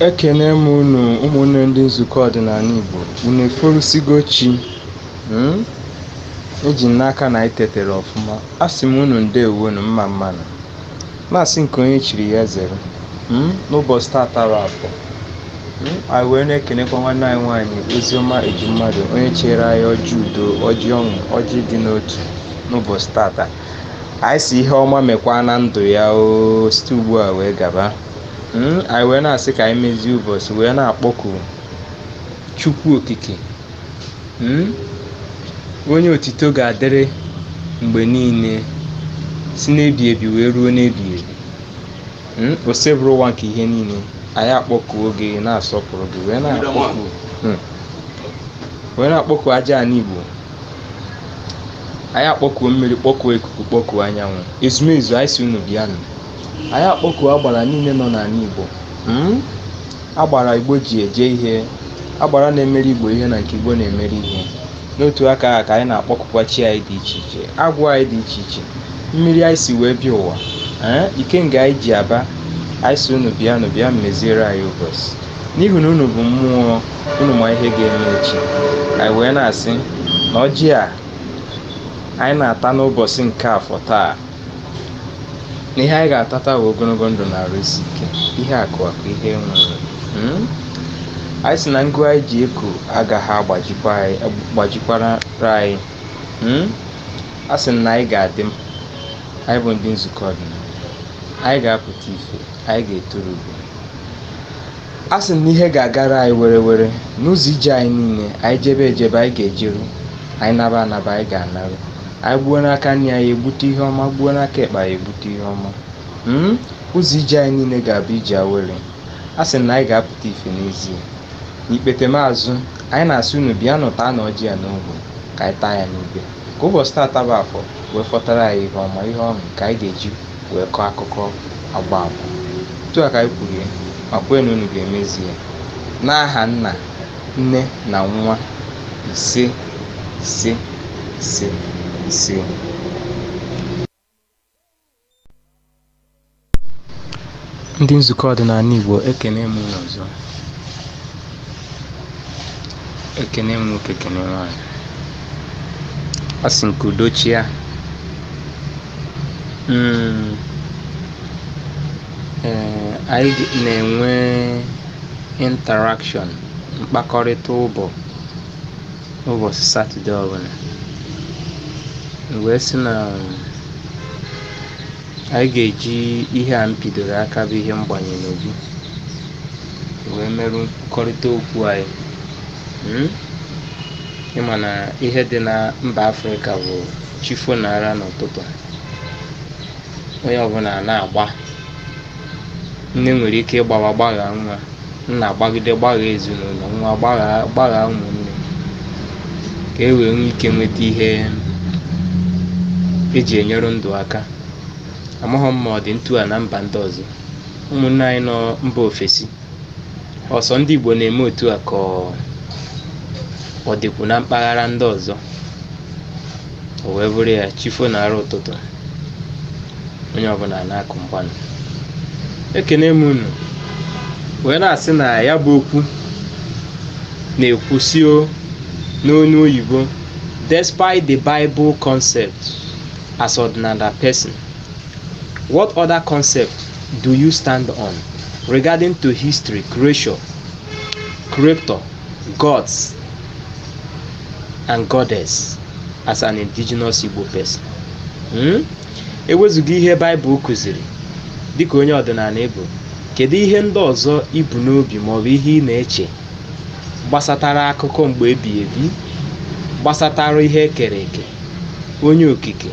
ekene m unu ụmụnne ndị nzukọ ọdịnala igbo unu eforusigo chi mm? eji m n'aka na anyị tetere ọfụma asị m unu ndewonụ mma mma nụ na-asị nke onye chiri ya zere mm? n'ụbọchị tata bụ afọ mm? anyị wee na-ekenekwa nwanne anyị nwaanyị oziọma ejimmadụ onye chere anyị ọjị udo ọjị ọṅụ ọjị ịdị n'otu n'ụbọchị tata anyị si ihe ọma mekwa na ndụ ya o site ugbu a wee gaba hmm, anyị wee na-asị ka anyị mezie ụbọchị wee na-akpọku chukwu okike hmm, onye otito ga-adịrị mgbe niile si n'ebi ebi wee ruo n'ebi ebi hmm, osebụrụwa nke ihe niile anyị akpọkuo gị na-asọpụrụ gị wee na-akpọku aja ala igbo anyị akpọkuo mmiri kpọkuo ikuku kpọkuo anyanwụ ezumezu anyị si unu bịanụ anyị akpọkuo agbara niile nọ n'ala igbo mm? agbara igbo ji eje ihe agbara na-emere igbo ihe na nke igbo na-emere ihe n'otu aka ahụ ka anyị na-akpọkukwa chi anyị dị iche iche agwụ anyị dị iche iche mmiri anyị si wee bịa ụwa ee eh? ikenga anyị ji aba anyị si unu bịanụ bịa meziere anyị ụbọchị n'ihi na unu bụ mmụọ unu ma ihe ga-eme echi anyị wee na-asị na ọjị a anyị na-ata n'ụbọchị nke afọ taa na ihe anyị ga-atata bụ ogologo ndụ na arụ isi ike ihe akụ akụ ihe nwere hmm? anyị si na ngụ anyị ji eko agaghị agbajikwara anyị hmm? a sị na anyị ga-adị anyị bụ ndị nzukọ ọdịnala anyị ga-apụta ife anyị ga-eturu ugo a sị na ihe ga-agara anyị were were n'ụzọ ije anyị niile anyị jebe ejebe anyị ga-ejeru anyị naba anaba anyị ga-anaru anyị gbuo n'aka nri anyị egbute ihe ọma gbuo n'aka ekpe anyị egbute ihe ọma mm? ụzọ ije anyị niile ga-abụ ije awere a sị na anyị ga-apụta ife n'ezie n'ikpetemazụ anyị na-asị unu bịanụ taanụ ọjị a n'ogbe ka anyị taa ya n'ibe ka ụbọchị taata bụ afọ wee fọtara anyị ihe ọma ihe ọṅụ ka anyị ga-eji wee kọọ akụkọ agba agba otu a ka anyị kwuru ya ma kwee na unu ga-emezi ya n'aha nna nne na nwa ise ise ise ise ndị nzukọ ọdịnala igbo ekene m unu ọzọ ekene m nwoke ekene nwaanyị asị m ka udo chịa Mm. Ee, anyị ga- na-enwe interaction mkpakọrịta ụbọ ụbọchị satọde ọbụla wee sị na Anyị ga-eji ihe a m pidoro aka bụ ihe mgbanye n'obi wee merụ nkwukọrịta okwu anyị. Mm? Ị ma na ihe dị na mba Afrịka bụ chi fo na ara n'ụtụtụ a, onye ọbụla na-agba. Nne nwere ike ịgbawa gbaghaa nwa. nna agbagide gbaghaa ezinụlọ nwa gbaghaa ụmụnne ka e wee nwee ike nweta ihe e ji enyere ndụ aka amaghị m ma ọ dị ntu a na mba ndị ọzọ ụmụnne anyị nọ mba ofesi ọ sọ ndị igbo na-eme otu a ka ọ ọ dịkwu na mpaghara ndị ọzọ o wee bụrụ ya chi fo na ara ụtụtụ onye ọbụla na-akụ mgbanụ ekene m unu wee na-asị na ya bụ okwu na-ekwu sị o n'onu oyibo despite the bible concept as ọdịnala person what other concept do you stand on regarding to history creation creator gods and goddess as an indigenous Igbo person Hmm? ewezụga ihe baịbụl kụziri dịka onye ọdịnala ị bụ kedu ihe ndị ọzọ i bu n'obi maọbụ ihe ị na-eche gbasatara akụkọ mgbe ebighị ebi gbasatara ihe e kere eke onye okike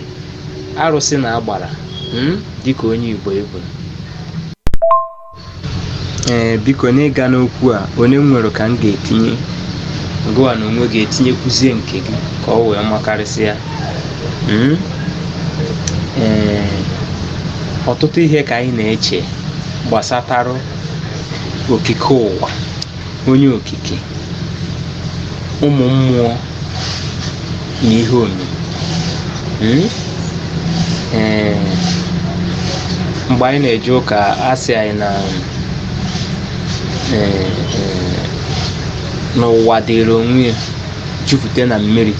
arụsị na agbara hmm? dịka onye igbo ị bụ ee biko n'ịga n'okwu a one m nwere ka m ga-etinye gụwa n'onwe gị etinyekwuzie nke gị ka o wee makarịsịa Mm? ee ọtụtụ ihe ka anyị na-eche gbasatara okike ụwa onye okike ụmụ mmụọ na ihe omimi hmm? eh, mgbe anyị na-eje ụka a sị anyị na eh, eh, n'ụwa dịrị onwe ya jupụta na mmiri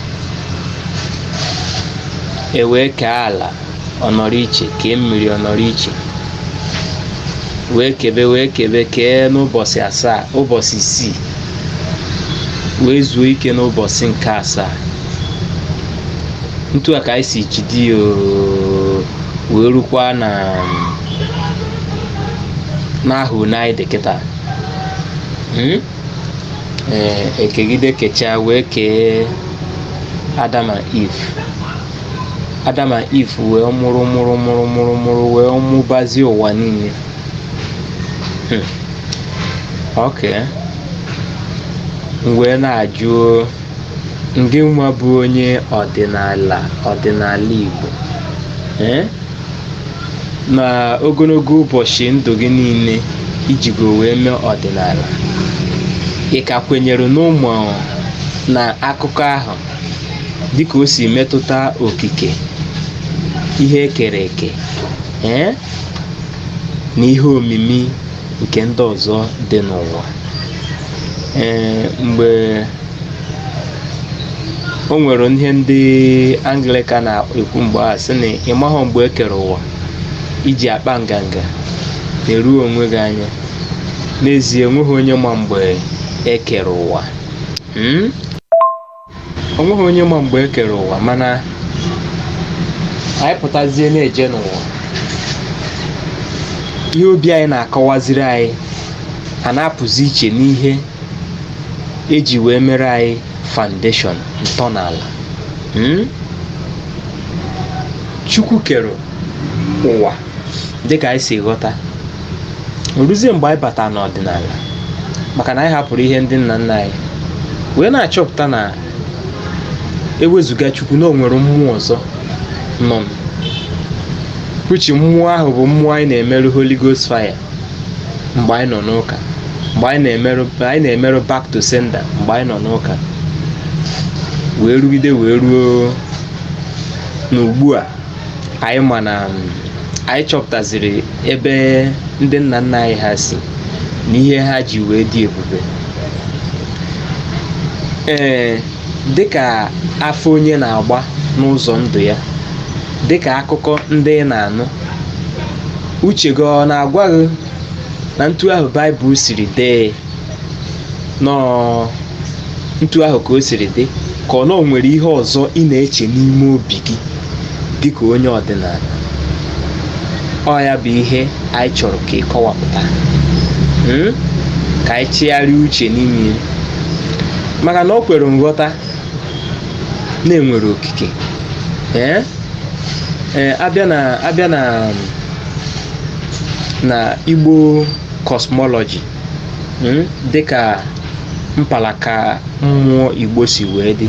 e wee kee ala ọ nọrọ iche kee mmiri ọ nọrọ iche wee kebe wee kebe kee n'ụbọchị asaa ụbọchị isii wee zuo ike n'ụbọchị nke asaa ntu a ka anyị si jide ya oo, wee rukwa na n'ahụ anyị dị kịta Mm? Ee, e kegide kechaa wee kee Adam and Eve Adam na Iv wee mụrụ mụrụ mụrụ mụrụ mụrụ wee mụbazie ụwa niile Hmm. ok m wee na-ajụ ngị nwa bụ onye ọdịnala ọdịnala Igbo Eh? na ogologo ụbọchị ndụ gị niile i jigo wee mee ọdịnala ị ka kwenyere na um na akụkọ ahụ dịka o si metụta okike ihe e kere eke ee na ihe omimi nke ndị ọzọ dị n'ụwa ee mgbe o nwere ihe ndị anglịkan na-ekwu mgbe a sị na ị maghọ mgbe e kere ụwa i ji akpa nganga na-eru onwe gị anya n'ezie enweghị onye ma mgbe e kere ụwa hmm? o nweghị onye ma mgbe e kere ụwa mana anyị pụtazie na-eje n'ụwa ihe obi anyị na-akọwaziri anyị a na-apụzi iche n'ihe e ji wee mere anyị foundation ntọala hmm? chukwu kere ụwa dịka anyị si ghọta o ruzie mgbe anyị bata n'ọdịnala maka na anyị hapụrụ ihe ndị nna nna anyị wee na-achọpụta na ewezụga chukwu na o nwere mmụọ ọzọ nọ which mmụọ ahụ bụ mmụọ anyị na-emerụ holy ghost fire mgbe anyị nọ n'ụka mgbe anyị na-emerụ back to sender mgbe anyị nọ n'ụka wee rugide wee ruo n'ugbu a anyị ma na um, anyị chọpụtaziri ebe ndị nna nna anyị ha si na ihe ha ji wee dị ebube ee dịka afọ onye na-agba n'ụzọ ndụ ya dịka akụkọ ndị ị na-anụ uche gị ọ na-agwa gị na ntu ahụ baịbụl siri dee na ọ ntu ahụ ka o siri dị ka ọ na o nwere ihe ọzọ ị na-eche n'ime obi gị dịka onye ọdịnala ọ ya bụ ihe anyị chọrọ ka ị kọwapụta Hmm? ka anyị chigharịa uche n'ime ya. maka na o kwere nghọta na e nwere okike ee ee a bịa na a bịa na na igbo cosmology dịka mpalaka mmụọ igbo si wee dị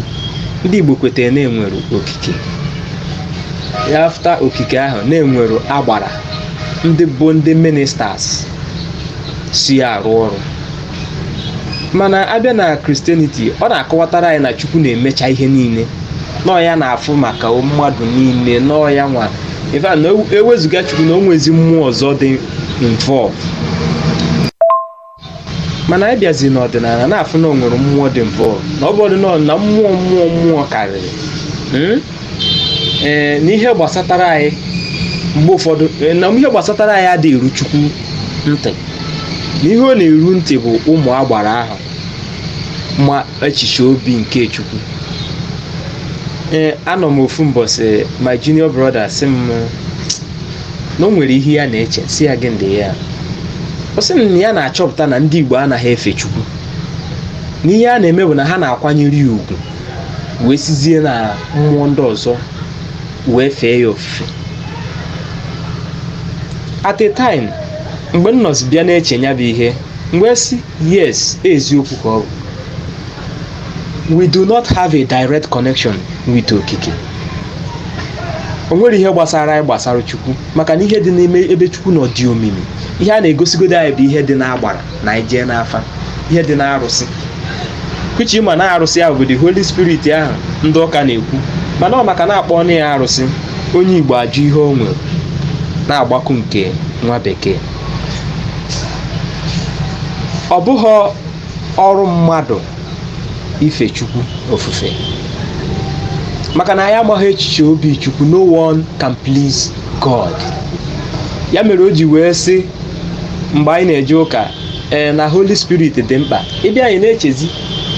ndị igbo kwetara na e nwere okike after okike ahụ na e nwere agbara ndị bụ ndị ministers si arụ ọrụ mana a bịa na Christianity ọ na-akọwatara anyị na chukwu na-emecha ihe niile na ọ ya na-afụ maka mmadụ niile na ọ ya nwa in fact na e wezụga chukwu na o nwezi mmụọ ọzọ dị involved mana ị bịazi n'ọdịnala na-afụ na o nwere mmụọ dị involved na ọ bụ ọdịnala na mmụọ mmụọ mmụọ karịrị Hmm? ee na ihe gbasatara anyị mgbe ụfọdụ ee, na ihe gbasatara anyị adịghị eru chukwu ntị na ihe ọ na-eru ntị bụ ụmụ agbara ahụ ma echiche obi nke chukwu ee anọ m ofu mbọsị my junior brother sị m na o nwere ihe ya na-eche sị ya gịnị dị ya ọ sị na ya na-achọpụta na ndị Igbo anaghị efe Chukwu na ihe a na-eme bụ na ha na-akwanyere ya ugwu wee sizie na mmụọ ndị ọzọ wee fee ya ofufe at a time mgbe m nọzi bịa na-eche ya bụ ihe m wee sị yes eziokwu ka ọ bụ we do not have a direct connection with okike o nwere ihe gbasara anyị gbasara chukwu maka na ihe dị n'ime ebe chukwu nọ dị omimi ihe a na-egosigodi anyị bụ ihe dị n'agbara na i jee n'afa ihe dị n'arụsị which ma na arụsị ahụ bụ the holy spirit ahụ ndị ụka na-ekwu mana ọ maka na a kpọ ya arụsị onye igbo ajụ ihe o nwere na-agbaku nke nwa bekee ọ bụghị ọrụ mmadụ ife chukwu ofufe maka na anyị amaghị echiche obi chukwu no one can please god ya mere o ji wee sị mgbe anyị na-eje ụka ee na holy spirit dị mkpa ebe anyị na-echezi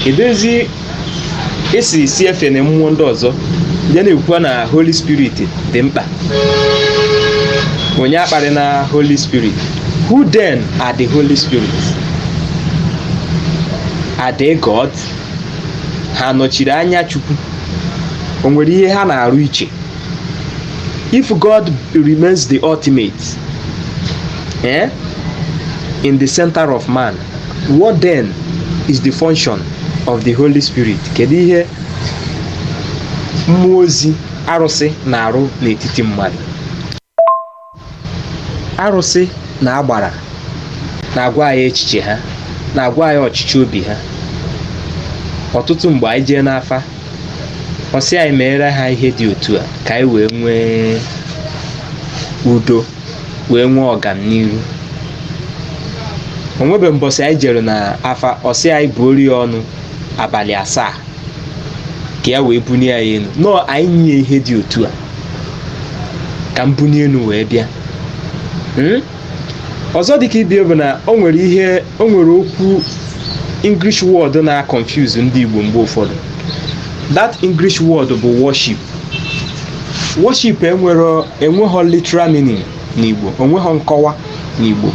edezi esi si efe na mmụọ ndị ọzọ ya na-ekwukwa na holy spirit dị mkpa onye akparịna holy spirit who then are the holy spirit are they god ha nọchiri anya chukwu o nwere ihe ha na-arụ iche if god remains the ultimate eh, in the center of man What then is the function of the Holy Spirit? Kedu ihe mmụọ ozi arụsị na-arụ n'etiti mmadụ? Arụsị na agbara na-agwa anyị echiche ha, na-agwa anyị ọchịchọ obi ha. Ọtụtụ mgbe anyị jee n'afa, ọ sị anyị meere ha ihe dị otu a ka anyị wee nwee udo. wee nwee ọganiru o nwebe mbọsị anyị jere n'afa ọ sị anyị buoro ya ọnụ abalị asaa ka ya wee bunie ya enu nọọ anyị nye ihe dị otu a ka m bunie enu wee bịa Mm? ọzọ dịka ibie bụ na o nwere ihe o nwere okwu english word na-confuse ndị igbo mgbe ụfọdụ that english word bụ worship worship enwero enweghọ literal meaning n'igbo o nweghọ nkọwa n'igbo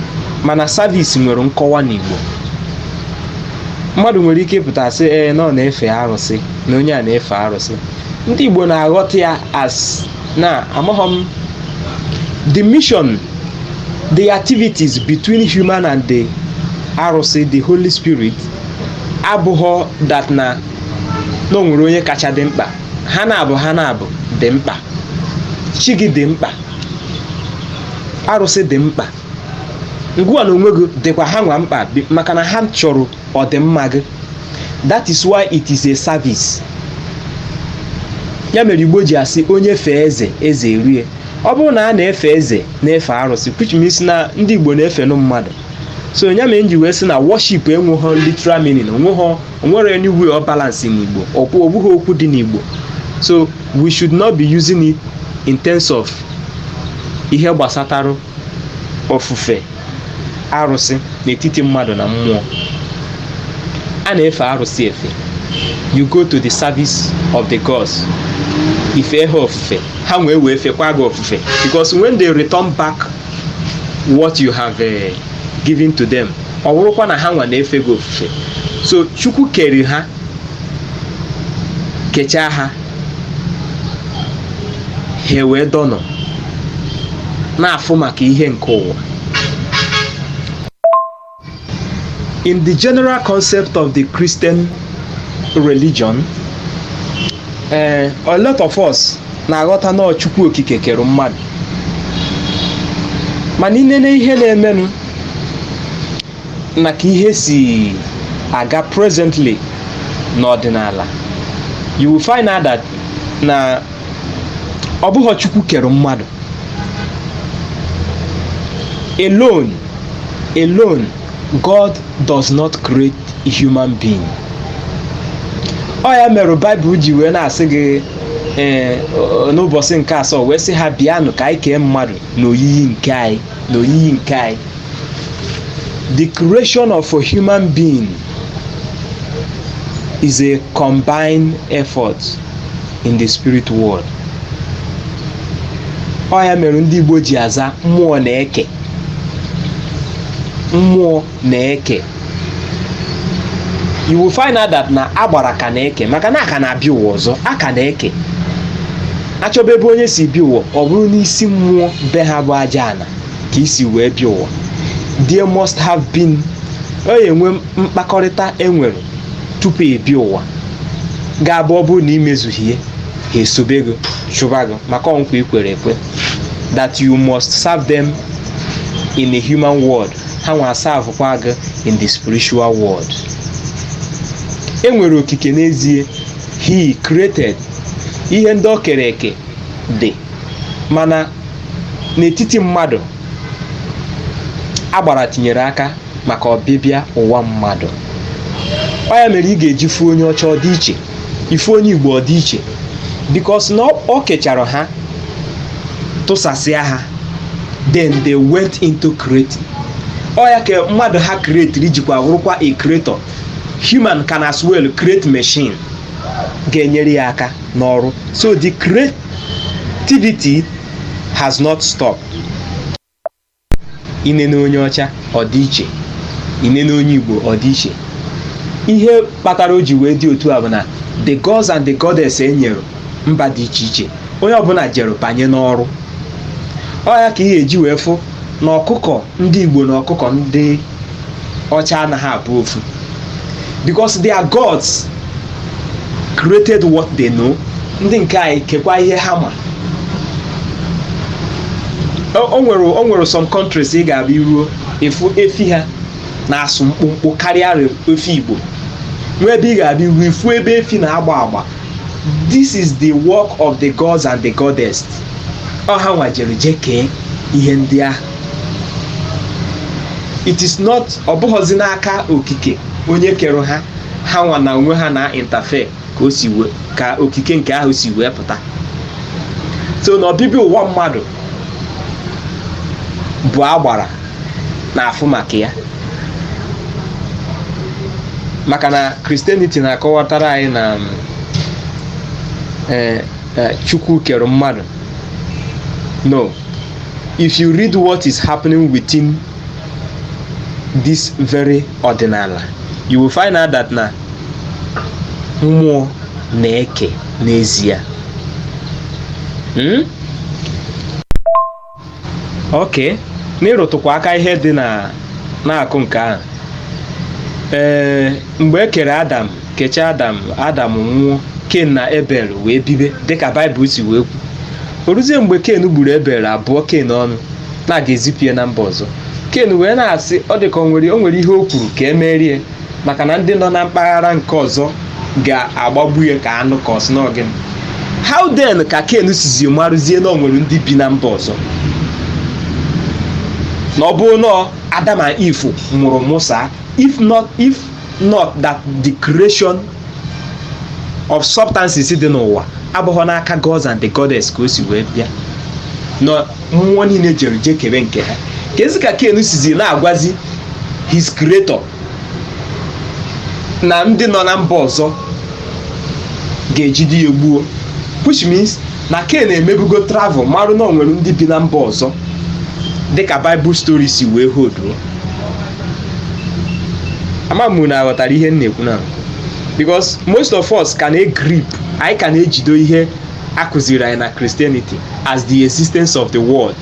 mana service nwere nkọwa n'igbo mmadụ nwere ike ịpụta sị ee na ọ na-efe arụsị na onye a na-efe arụsị ndị igbo na-aghọta ya as na amaghọ m the mission the activities between human and the arụsị the holy spirit abụghọ that na na o nwere onye kacha dị mkpa ha n'abụọ ha n'abụọ dị mkpa chi gị dị mkpa arụsị dị mkpa gị nwa n'onwe gị dịkwa ha nwa mkpa bi- maka na ha chọrọ ọdịmma gị that is why it is a service ya mere igbo ji asị onye fee eze eze eruo ya ọ bụrụ na a na-efe eze na-efe arụsị which means na ndị igbo na-efenụ mmadụ so ya mere m ji wee sị na worship enweghọ literal meaning o nweghọ nwere any way ọ balance n'Igbo ọ bụghị okwu dị n'Igbo so we should not be using it in terms of ihe gbasatara ofufe arụsị n'etiti mmadụ na mmụọ a na-efe arụsị efe you go to the service of the gods i fee ha ofufe ha wee wee fekwa gị ofufe because when they return back what you have uh, given to them ọ wụrụkwa na ha nwa na-efe gị ofufe so chukwu kere ha kechaa ha ha wee dọnọ na-afụ maka ihe nke ụwa in the general concept of the christian religion eh, a lot of us na-aghọta na chukwu okike kere mmadụ mana i nene ihe na-emenụ na ka ihe si aga presently n'ọdịnala you will find out that na ọ bụghị chukwu kere mmadụ alone god does not create a human being ọ ya mere baịbụl ji wee na-asị gị ee n'ụbọsị nke asaa wee sị ha bịanụ ka anyị kee mmadụ n'oyiyi nke anyị n'oyiyi nke anyị the creation of a human being is a combined effort in the spirit world ọ ya mere ndị Igbo ji aza mmụọ na-eke mmụọ na-eke you will find out that na agbara ka na-eke maka na a ka na-abịa ụwa ọzọ a ka na-eke a chọba ebe onye si bịa ụwa ọ bụrụ n'isi mmụọ be ha bụ aja ana ka i si wee bịa ụwa there must have been ọ ya-enwe mkpakọrịta e nwere tupu ị bịa ụwa ga-abụ ọ bụrụ na i mezughị ya ha esobe gị chụba gị maka ọ nkwa i kwere ekwe that you must serve them in a human world ha nwa aservekwa gị in the spiritual world e nwere okike n'ezie he created ihe ndị o kere eke dị mana n'etiti mmadụ agbara tinyere aka maka ọbịbịa ụwa mmadụ ọ ya mere ị ga-eji fụ onye ọcha ọ dị iche ị fụ onye igbo ọ dị iche because na o kechara ha tụsasịa ha then they went into creating ọ ya ka mmadụ ha creatiri jikwa wụrụkwa a creator human can as well create machine ga-enyere ya aka n'ọrụ so the creativity has not stopped i nene onye ọcha ọ dị iche i nene onye igbo ọ dị iche ihe kpatara o ji wee dị otu a bụ na the gods and the goddess e nyere mba dị iche iche onye ọbụla jere banye n'ọrụ ọ ya ka ị ga-eji wee fụ na ọkụkọ ndị igbo na ọkụkọ ndị ọcha anaghị abụ ofu because their gods created what they know ndị nke anyị kekwa ihe ha ma o o nwere o nwere some countries ị ga-abịa i ruo ị fụ efi ha na-asụ mkpụmkpụ karịa re- efi igbo nwee ebe ị ga-abịa i ruo ị fụ ebe efi na-agba agba this is the work of the gods and the goddess ọ ha nwa jere jee kee ihe ndị ahụ it is not ọ bụghọzi n'aka okike onye kere ha ha nwa n'onwe ha na-interfere ka o si wee ka okike nke ahụ si wee pụta so na ọbịbịa ụwa mmadụ bụ agbara na-afụ maka ya maka na christianity na-akọwatara anyị na mm, eh, eh, chukwu kere mmadụ no if you read what is happening within this very ọdịnala you will find out that na mmụọ na-eke n'ezie hmm? ok n'ịrụtụkwa aka ihe dị na na-akụ nke ahụ ee mgbe e kere adam kechaa adam adam nwụọ ken na ebel wee bibe dịka baịbụl si wee kwu o ruzie mgbe ken gburu ebel a bụọ ken ọnụ na a ga-ezipụ ya na mba ọzọ ken wee na-asị ọ dị ka o nwere o nwere ihe o kwuru ka e meere ya maka na ndị nọ na mpaghara nke ọzọ ga-agbagbu ya ka anụ ka ọ sị n'ọ gịnị how then ka ken sizi marụzie na o nwere ndị bi na mba ọzọ na ọ bụrụ na adam and eve mụrụ mụsaa if not if not that the creation of substances dị n'ụwa abụghọ n'aka gods and the goddess ka o si wee bịa na mmụọ niile jere je kebe nke ha kezi ka ken sizi na-agwazi his creator na ndị nọ na mba ọzọ ga-ejide ya gbuo which means na ken emebugo travel marụ na o nwere ndị bi na mba ọzọ dịka baịbụl stori si wee hoduo ama m na a ghọtara ihe m na-ekwu na because most of us ka na-egrip anyị ka na-ejido ihe a kụziri anyị na christianity as the existence of the world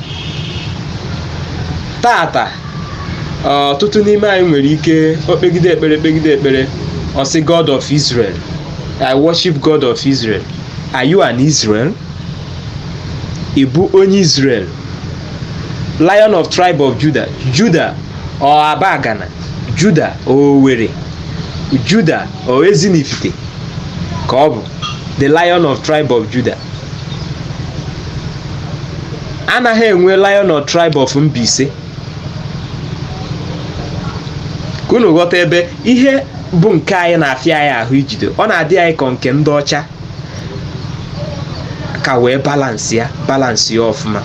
taata ọ, ọtụtụ n'ime anyị nwere ike o kpegide ekpere kpegide ekpere ọ sị god of israel i worship god of israel Are you an Israel? Ị bụ onye Israel? Lion of tribe of Judah. Judah ọ Abagana. Judah ọ Owerri. Judah ọ Ezinifite ka ọ bụ the lion of tribe of Judah. A naghị enwe lion of tribe of Mbaise. ka unu ghọta ebe ihe bụ nke anyị na-afịa anyị ahụ ijide ọ na-adị anyị ka nke ndị ọcha ka wee balansị ya balansị ya ọfụma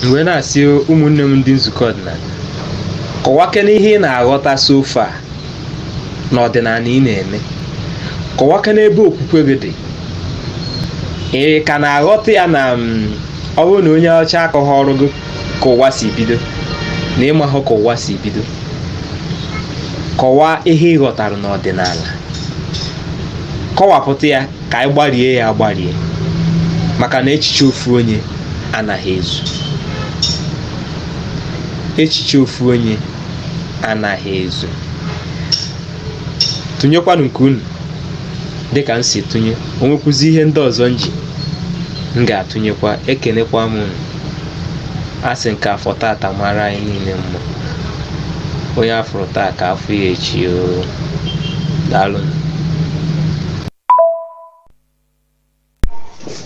m wee na-asị ụmụnne m ndị nzukọ ọdịnala kọwakene ihe ị na-aghọta so far na ọdịnala ị na-eme kọwakene ebe okwukwe gị dị ị ka na-aghọta ya na mm, ọ bụrụ na onye ọcha akọghọrọ gị ka ụwa si bido na ị mahụ ka ụwa si bido kọwaa ihe ị ghọtara n'ọdịnala kọwapụta ya ka anyị gbarie ya agbarie maka na echiche ofu onye anaghị ezu echiche ofu onye anaghị ezu tụnyekwanụ nke unu dị ka m si tụnye o nwekwuzi ihe ndị ọzọ m ji m ga-atụnyekwa ekenekwa m unu asị m ka afọ tata mara anyị niile mma onye afụrụ taa ka afụ ya echi o daalụ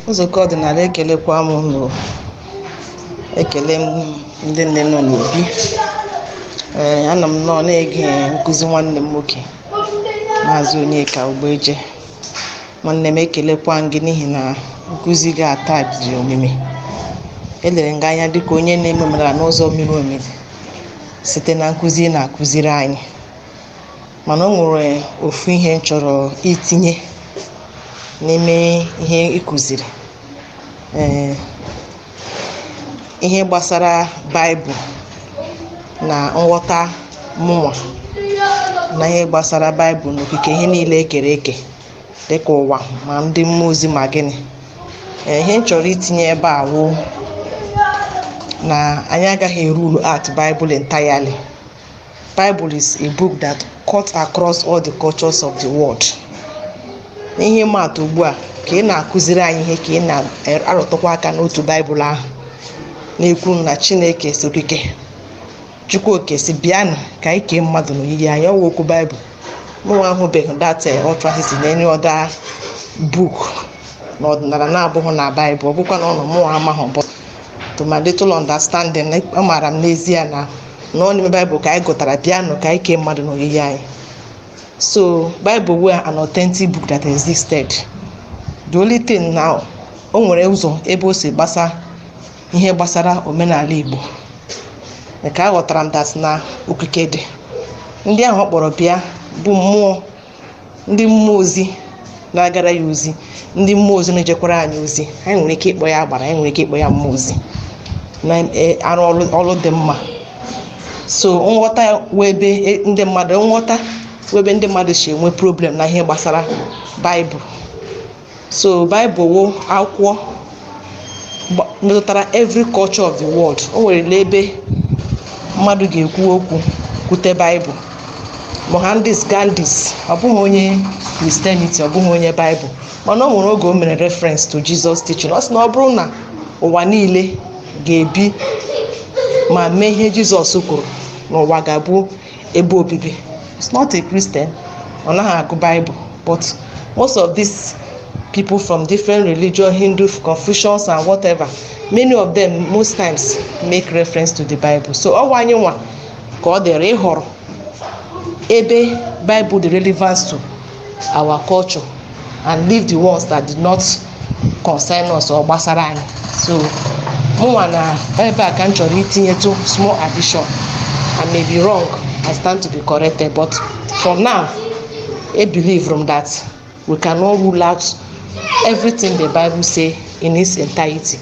nzukọ ọdịnala ekelekwa m unu ekele m ndị nne nọ n'obi ee ana m nọ na-ege nkụzi nwanne m nwoke maazị onyeka ugbeje nwanne m ekelekwa m gị n'ihi na nkụzi gị a taa miri omimi elere m gị anya dịka onye na-eme omenala n'ụzọ miri omimi site na nkụzi ị na-akụziri anyị mana o nwere ofu ihe m chọrọ itinye n'ime ihe ị kụziri ee ihe gbasara baịbụl na nghọta mụnwa na ihe gbasara baịbụl na okike ihe niile ekere eke dịka ụwa ma ndị mmụọ ozi ma gịnị Ee, ihe m chọrọ itinye ebe a wụ na anyị agaghị e-rule out baịbụl entirely Bible is a book that cuts across all the cultures of the world. N'ihe ịma atụ ugbu a ka ị na-akụziri anyị ihe ka ị na-arụtụkwa aka n'otu Baịbụl ahụ na-ekwu na Chineke sị okike Chukwu oke sị bịanụ ka anyị kee mmadụ n'oyiyi anyị ọ wụ okwu Baịbụl mụnwa ahụbeghị that utterances na any other book na ọdịnala na-abụghị na Baịbụl ọ bụkwa na ọ nọ mụnwa amaghị but to my little understanding amaara m n'ezie na nọ n'ime baịbụl ka anyị gụtara bịanụ ka anyị kee mmadụ n'oyiyi anyị so baịbụl wụ an authentic book that existed the only thing now o nwere ụzọ ebe o si gbasa ihe gbasara omenala igbo nke aghọtara m that na okike dị ndị ahụ ọ kpọrọ bịa bụ mmụọ ndị mmụọ ozi na-agara ya ozi ndị mmụọ ozi na-ejekwara anyị ozi anyị nwere ike ịkpọ ya agbara anyị nwere ike ịkpọ ya mmụọ ozi na-arụ ọrụ dị mma so nghọta wụ ebe e- ndị mmadụ nghọta wụ ebe ndị mmadụ si enwe problem na ihe gbasara baịbụl so baịbụl wụ akwụkwọ gba- metụtara every culture of the world o nwere n'ebe mmadụ ga-ekwu okwu kwute baịbụl mohandas gandhi ọ bụghị onye christianity ọ bụghị onye baịbụl mana o nwere oge o mere reference to jesus teaching ọ sị na ọ bụrụ na ụwa niile ga-ebi ma mee ihe jizọs kwuru na ụwa ga-abụ ebe obibi it's not a christian ọ naghị agụ bible but most of these people from different religion hindus confucians and whatever many of them most times make reference to the bible so ọ wụ anyị nwa ka ọ dịrị ịhọrọ ebe bible dị relevant to our culture and leave the ones that did not concern us or gbasara anyị so mụnwa na ebe a ka m chọrọ itinyetụ small addition I may be wrong I stand to be corrected but for now I believe from that we cannot rule out everything the Bible say in its entirety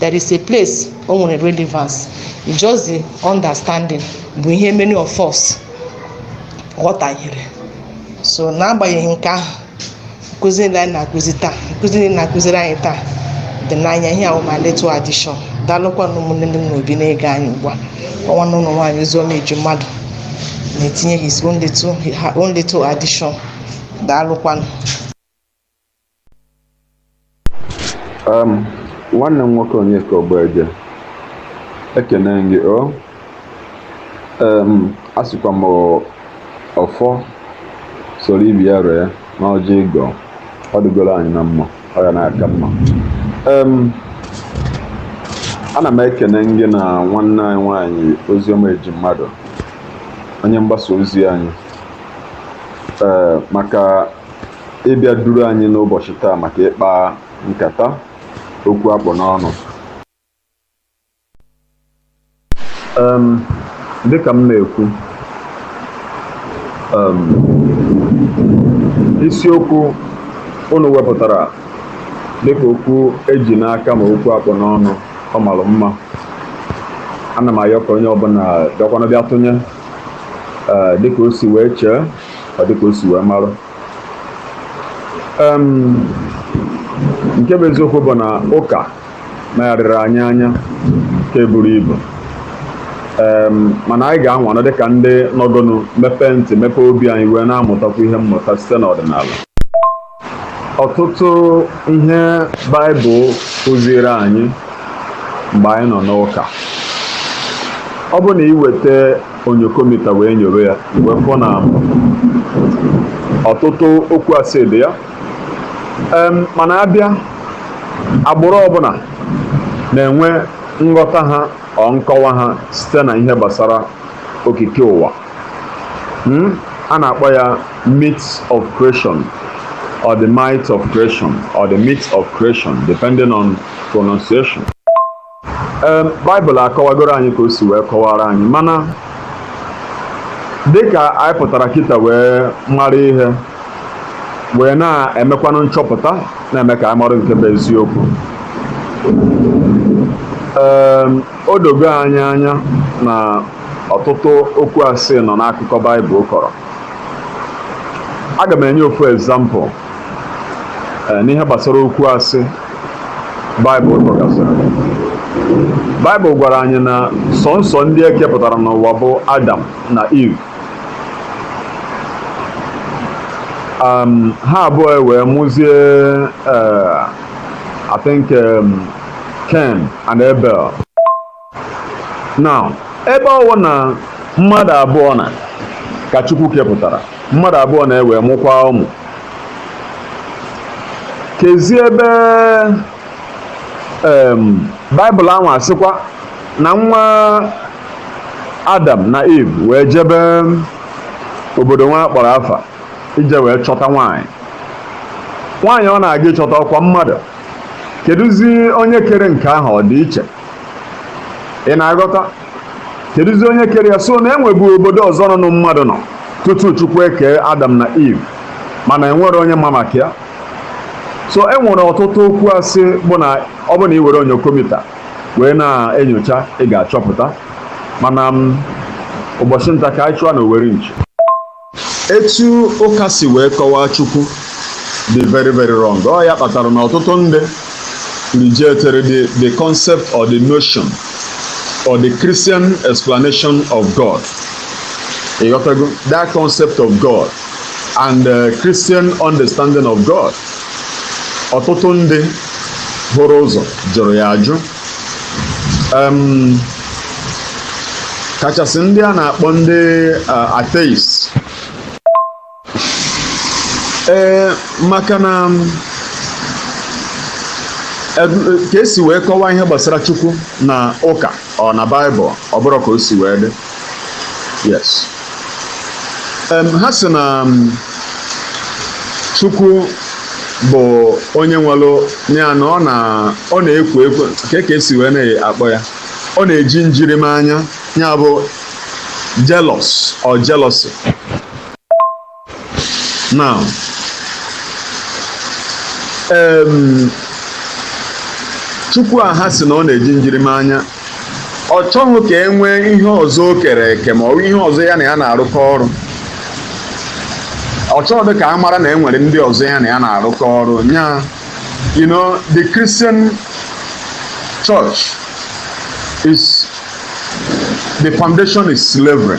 there is a place o nwere relevance it's just the understanding bụ ihe many of us ghọtahiere so n'agbanyeghị nke ahụ nkụzi niile anyị na-akụzi taa nkụzi niile a na-akụziri anyị taa dị na ya ihe a wụ my little addition daalụkwanụ ụmụnne m n'obi na-ege anyị ugbu a ọ nwanne unu nwaanyị oziọma ejimmadụ na-etinye his own little, her own little addition daalụkwanụ um nwanne m nwoke Onyeka Ogbueje ekene gị o um asịkwa m ọfọ soro ibe ya ree n'ọjị ịgọ ọ dịgoro anyị na mma ọ ya na-aka mma um ana m ekene gị na nwanne anyị nwaanyị oziọma ejimmadụ onye mgbasa ozi anyị ee maka ịbịa duru anyị n'ụbọchị taa maka ịkpa nkata okwu akpụ n'ọnụ um, dịka m na-ekwu um, isiokwu unu wepụtara dịka okwu e ji n'aka ma okwu akpụ n'ọnụ ọ mara mma ana m ayọ ka onye ọbụla bịakwanụ bịa tụnye eh, dịka o si wee chee or dịka o si wee marụ nke bụ eziokwu bụ na ụka megharịrị anyị anya nke buru ibu mana anyị ga-anwanụ dịka ndị nọgonu mepee ntị mepee obi anyị wee na-amụtakwu ihe mmụta site n'ọdịnala ọtụtụ ihe baịbụl kụziere anyị mgbe anyị nọ n'ụka ọ bụ na i weta onyokomita wee nyowe ya wee fụ na ọtụtụ okwu asị dị ya Em, mana a bịa agbụrụ ọbụla na-enwe nghọta ha or nkọwa ha site na ihe gbasara okike ụwa Hmm? a na-akpọ ya myths of creation or the might of creation or the myths of creation depending on pronunciation um, Bible akọwagoro anyị ka o si wee kọwara anyị mana dịka anyị pụtara kịta wee mara ihe wee na-emekwanụ nchọpụta na-eme ka anyị marụ nke bụ eziokwu um, O dogo anyị anya na ọtụtụ okwu asị nọ n'akụkọ Baịbụl kọrọ. Aga m enye ofu example eh, n'ihe gbasara okwu asị Baịbụl kọgasịrị. Baịbụl gwara anyị na sọnsọ ndị e kepụtara n'ụwa bụ Adam na Eve. Um, ha abụọ wee mụzie eh, I think um, Cain and Abel now ebe ọ wụ na mmadụ abụọ na ka Chukwu kepụtara mmadụ abụọ na ewee mụkwaa ụmụ kezi ebe em baịbụl ahụ asịkwa na nwa adam na eve wee jebe obodo nwa a kpọrọ afa ije wee chọta nwaanyị nwaanyị ọ na-aga ịchọta ọ kwa mmadụ kedụzi onye kere nke ahụ ọ dị iche ị na-aghọta kedụzi onye kere ya so na enwebu obodo ọzọ nọnụ mmadụ nọ tutu chukwu ekee adam na eve mana enwerọ onye ma maka ya so e nwere ọtụtụ okwu asị bụ na ọ bụ na ị were onyokomita wee na-enyocha ị ga-achọpụta mana ụbọchị nta ka anyị chụọ na owere nchi etu ụka si wee kọwaa chukwu dị very very wrong ọ ya kpatara na ọtụtụ ndị rejected the, the concept or the notion or the christian explanation of god ịghọtago that concept of god and uh, christian understanding of god ọtụtụ ndị hụrụ ụzọ jụrụ ya ajụ kachasị ndị a na-akpọ ndị atheist ee maka na ka esi wee kọwaa ihe gbasara chukwu na ụka or na baịbụl ọ bụrọ ka o si wee dị yes ha sị na chukwu bụ onye nwelụ ya na ọ na ọ na-ekwo ekwo nke ka esi wee na-akpọ ya ọ na-eji njirimanya ya bụ jealous or jealousy now um, chukwu a ha sị na ọ na-eji njirimanya ọ chọghị ka e nwee ihe ọzọ o kere eke ma ọ bụ ihe ọzọ ya na ya na-arụkọ ọrụ ọ chọghị ka a mara na e nwere ndị ọzọ ya na ya na-arụkọ ọrụ nya you know the Christian church is the foundation is slavery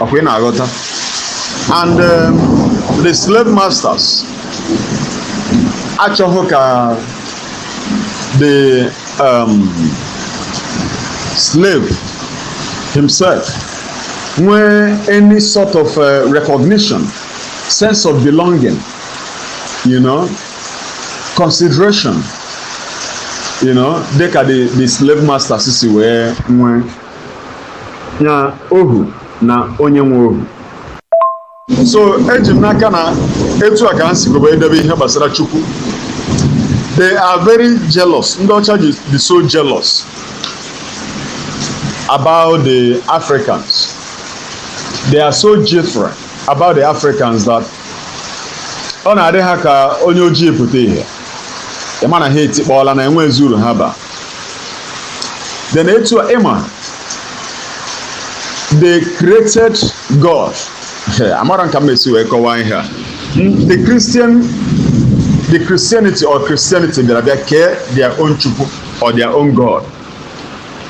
ọkwa ị na-aghọta and um, the slave masters achọhọ ka the um, slave himself nwee any sort of uh, recognition sense of belonging you know consideration you know dịka the the slave masters si wee nwee ya ohu na onye nwe ohu so eji m n'aka na etu a ka ha si gobe edebe ihe gbasara chukwu they are very jealous ndị ọcha dị so jealous about the africans they are so jittery about the africans that ọ na-adị ha ka onye ojii pụta ihe ị ma na ha etikpọọla na enwezi uru ha ba then etu a ịma they created god amarọ m ka m esi wee kọwaa ihe a Hmm, the christian the christianity or christianity bịara bịa kee their own chukwu or their own god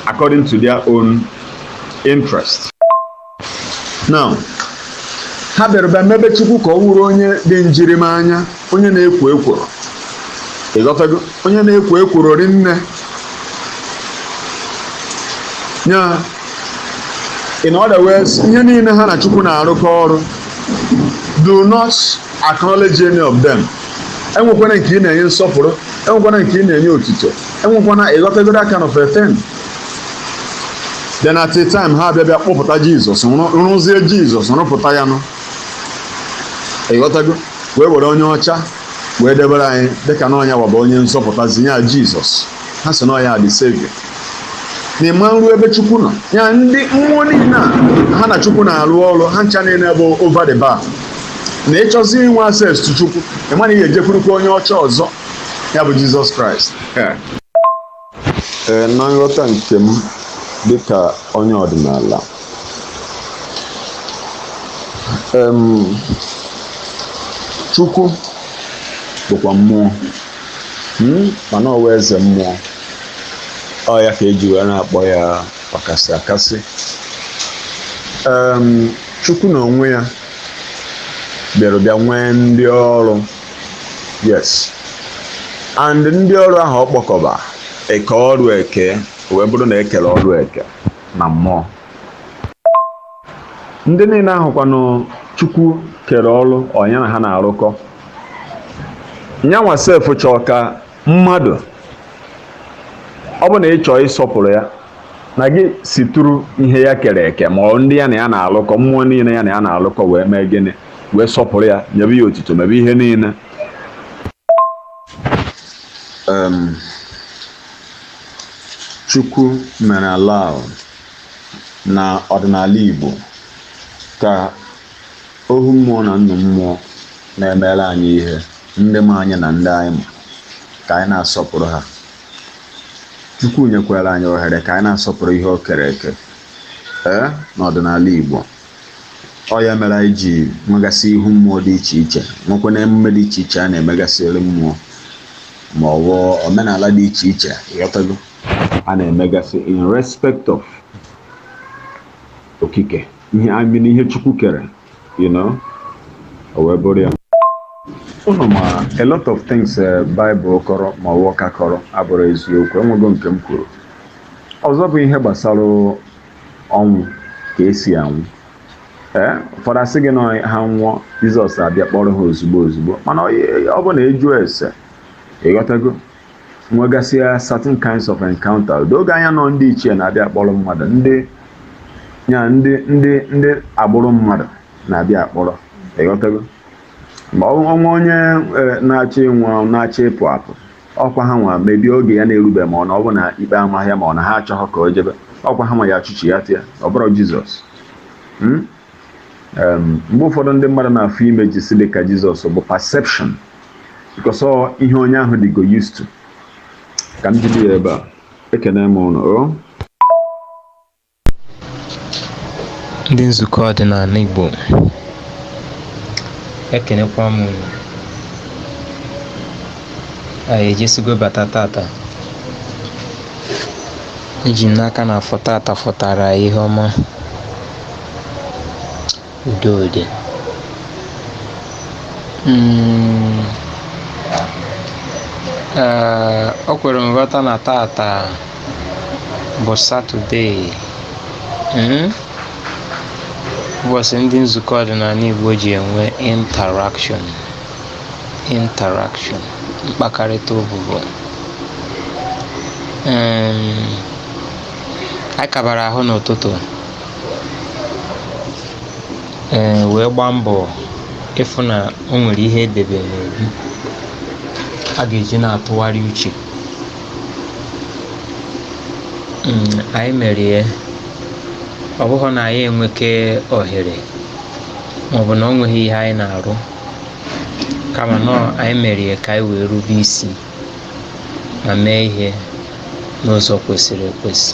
according to their own interest now ha bịara bịa mebe chukwu ka ọ wụrụ onye dị njirimanya onye na-ekwo ekworo ịghọtago onye na-ekwo ekworo rinne nya in other words ihe niile ha na chukwu na-arụkọ ọrụ do not acknowledge any of them enwekwana nke ị na-enye nsọpụrụ enwekwana nke ị na-enye otito enwekwana ịghọtago that kind of a thing then at a time ha abịa bịa kpọpụta jizọs rụzie jizọs rụpụta ya nụ ịghọtago wee were onye ọcha wee debere anyị dịka na ọ nya wa bụ onye nzọpụta zinye ya jizọs ha sị na ọ ya the savior na ịma nru ebe chukwu nọ ya ndị mmụọ niile a ha na chukwu na-arụ ọrụ ha ncha niile bụ over the bar na ịchọzi inwe access to chukwu ịma na ị ga-ejekwurukwa onye ọcha ọzọ ya bụ jizọs kraịst ee na nghọta nke m dịka onye ọdịnala em chukwu bụkwa mmụọ mm, mana ọ wụ eze mmụọ ọ ya ka eji wee na-akpọ ya ọkasị akasị em chukwu na onwe ya bịara bịa nwee ndị ọrụ yes and ndị ọrụ ahụ ọ kpọkọba eke ọrụ eke wee bụrụ na ekere ọrụ eke na mmụọ ndị niile ahụkwanụ chukwu kere ọrụ ọ nya na ha na-arụkọ nyanwa sef chọọ ka mmadụ ọ bụ na ị chọọ ịsọpụrụ ya na gị situru ihe ya kere eke ma ọ ndị ya na ya na-alụkọ mmụọ niile ya na ya na-alụkọ wee mee gịnị wee sọpụrụ ya nyebe ya otito mebe ihe niile chukwu mere allow na ọdịnala igbo ka ohu mmụọ na nnu mmụọ na-emere anyị ihe ndị ma anyị na ndị anyị ma ka anyị na-asọpụrụ ha chukwu nyekwara anyị ohere ka anyị na-asọpụrụ ihe o kere eke ee n'ọdịnala igbo ọ ya mere anyị ji nwegasị ihu mmụọ dị iche iche nwekwa na emume dị iche iche a na-emegasịrị mmụọ ma ọ bụ omenala dị iche iche ị ghọtago a na-emegasị in respect of okike ihe I mean ihe chukwu kere you know o wee bụrụ ya unu ma a lot of things eh, Bible kọrọ ma ọ wụ ụka kọrọ abụrọ eziokwu enwego nke m kwuru ọzọ bụ ihe gbasara ọnwụ ka esi anwụ ee ụfọdụ asị gị na ha nwụọ jizọs abịa kpọrọ ha ozugbo ozugbo mana ọ bụ na ị jụọ ese ị ghọtago nwegasịa certain kinds of encounter o doo gị anya na ọ ndị ichie na-abịa akpọrọ mmadụ ndị ya ndị ndị ndị agbụrụ mmadụ na-abịa akpọrọ ị ghọtago ma o nwee onye na-achọ ịnwụ na-achọ ịpụ apụ ọkwa ha nwa mebi oge ya na-erube ma ọ na ọ bụ na ikpe amaghị ya ma ọ na ha achọghị ka o jebe ọkwa ha nwa ya achụchi ya tịa ọ bụrọ jizọs Hmm? Em, mgbe ụfọdụ ndị mmadụ na-afụ images dị ka jizọs bụ perception because ọ ihe onye ahụ dịgo used to ka m jide ya ebe a ekene m ụnụ o ndị nzukọ ọdịnala Igbo ekenekwa m unu anyị ejesigo bata tata eji m n'aka na afọ tata fọtara ihe ọma Udo dị mm, eh, o kwere nghọta na tata bụ satọde hmm? ụbọchị ndị nzukọ ọdịnala Igbo ji enwe interaction interaction mkpakarịta ụbụbọ anyị kabara ahụ n'ụtụtụ ee wee gbaa mbọ ịfụ na o nwere ihe e debe n'obi a ga-eji na-atụgharị uche Mm, anyị mere ya ọ bụghị na anyị enweke ohere maọbụ na o nweghị ihe anyị na-arụ kama na anyị mere ya ka anyị wee rube isi ma mee ihe n'ụzọ kwesịrị ekwesị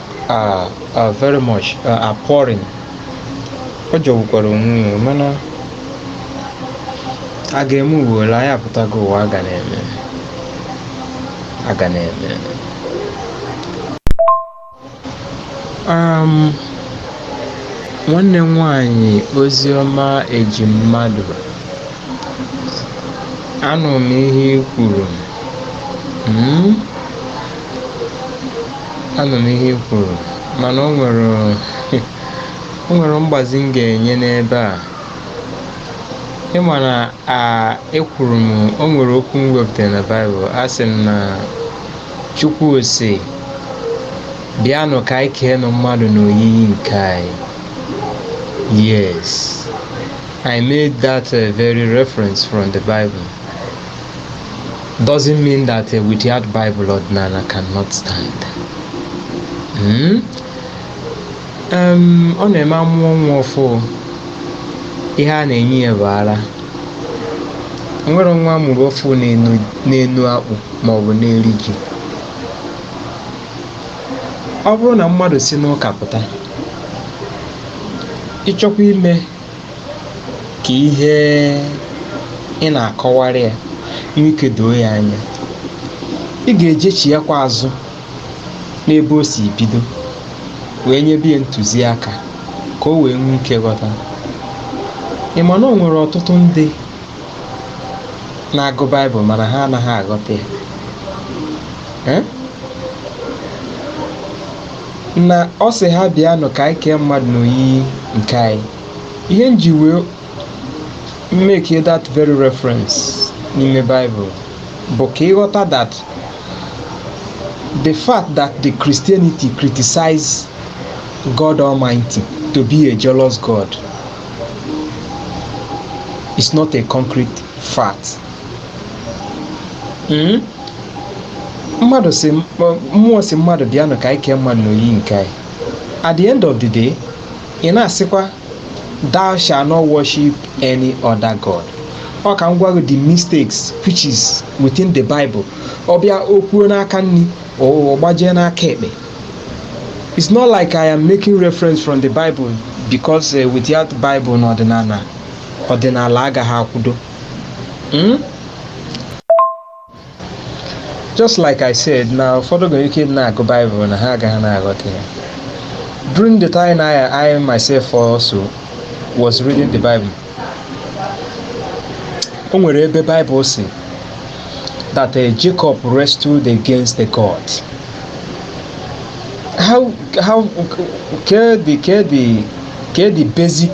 are are very much uh, appalling ọ jọgbukwara onwe ya mana a ga-eme ụwa ole anyị apụtago ụwa a ga na-eme a ga na-eme um, nwanne m nwanyị Oziọma Ejimmadụ anụ m ihe i kwuru hmm? anụ m ihe i kwuru mana o nwere o nwere mgbazi m ga-enye n'ebe a ị ma na a ekwuru m o nwere okwu m wepụtara na baịbụl asị m na Chukwu sị bịanụ ka anyị keenụ mmadụ n'oyiyi nke anyị yes i made that uh, very reference from the bible doesn't mean that a without Bible ọdịnala cannot stand. Hmm? Um, ọ na-eme a mụọ nwa ọfụ ihe a na-enye ya bụ ara nwere nwa a mụrụ ọfụ na-eno akpụ ma ọ bụ na-eri ji ọ bụrụ na mmadụ si n'ụka pụta ị chọkwa ime ka ihe ị na-akọwara ya nwee ike doo ya anya ị ga-ejechighakwa azụ n'ebe o si bido wee nyebe ya ntụziaka ka o wee nwee ike ghọta ị ma na o nwere ọtụtụ ndị na-agụ baịbụl mana ha anaghị aghọta ya Eh? na ọ sị ha bịanụ ka anyị kee mmadụ n'oyiyi nke anyị ihe m ji wee make that very reference n'ime Bible bụ ka ị ghọta that the fact that the Christianity criticize God Almighty to be a jealous God is not a concrete fact. Mm? mmadụ sị mmụọ sị mmadụ bịanụ ka anyị kee mmadụ n'oyiyi nke anyị at the end of the day ị na-asịkwa thou shall not worship any other god ọ ka m gwa gị the mistakes which is within the bible ọ bịa o kwuo n'aka nri ọ gbajie n'aka ekpe it's not like i am making reference from the bible because uh, without bible na ọdịnala ọdịnala agaghị akwụdo hmm? just like I said na ụfọdụ nwere ike na-agụ Bible na ha agaghị na-aghọta ya during the time I, I myself also was reading the Bible o nwere ebe Bible sị that uh, Jacob wrestled against the God. How how can the can the can the basic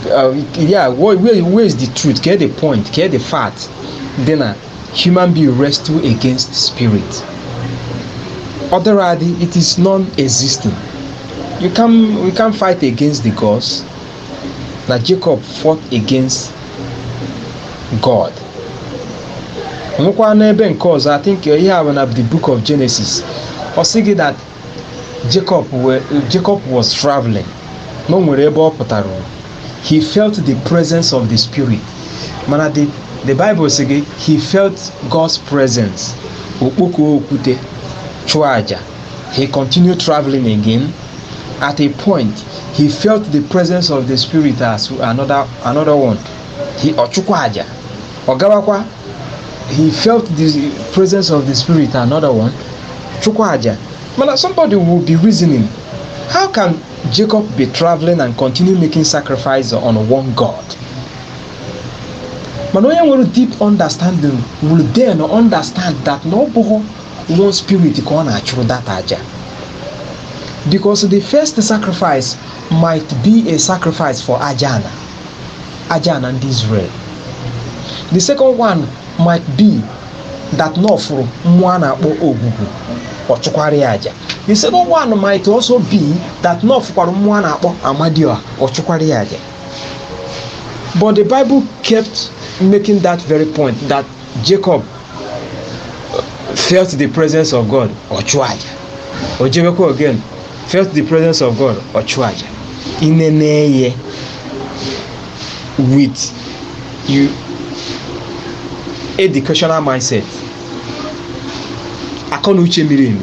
Uh, yeah, where, where, where is the truth? Get the point, get the fact. Then a human being wrestle against spirit. Otherwise, it is non-existing. You can we can't fight against the gods. Na Jacob fought against God. nwekwa n'ebe nke ọzọ i think ihe a bụ na the book of genesis ọ sị gị that Jacob were Jacob was traveling na o nwere ebe ọ pụtara he felt the presence of the spirit mana the the bible sị gị he felt God's presence o kpokọọ okwute chụọ aja he continued traveling again at a point he felt the presence of the spirit as another another one he ọ chụkwa aja ọ gawakwa he felt the presence of the spirit another one chụkwa aja mana somebody will be reasoning how can jacob be traveling and continue making sacrifice on one god mana onye nwere deep understanding will then understand that na ọ bụghị one spirit ka ọ na-achụrụ that aja because the first sacrifice might be a sacrifice for ajana Ajana ndị Israel the second one might be that na ọ fụrụ mmụọ a na-akpọ Ogwugwu ọ chụkwara ya aja the second one might also be that na ọ fụkwara mmụọ a na-akpọ Amadioha ọ chụkwara ya aja but the bible kept making that very point that jacob felt the presence of god ọ chụọ aja o jebekwa again felt the presence of God ọ chụọ aja i nenee ya with your educational mindset akọ na uche miri emi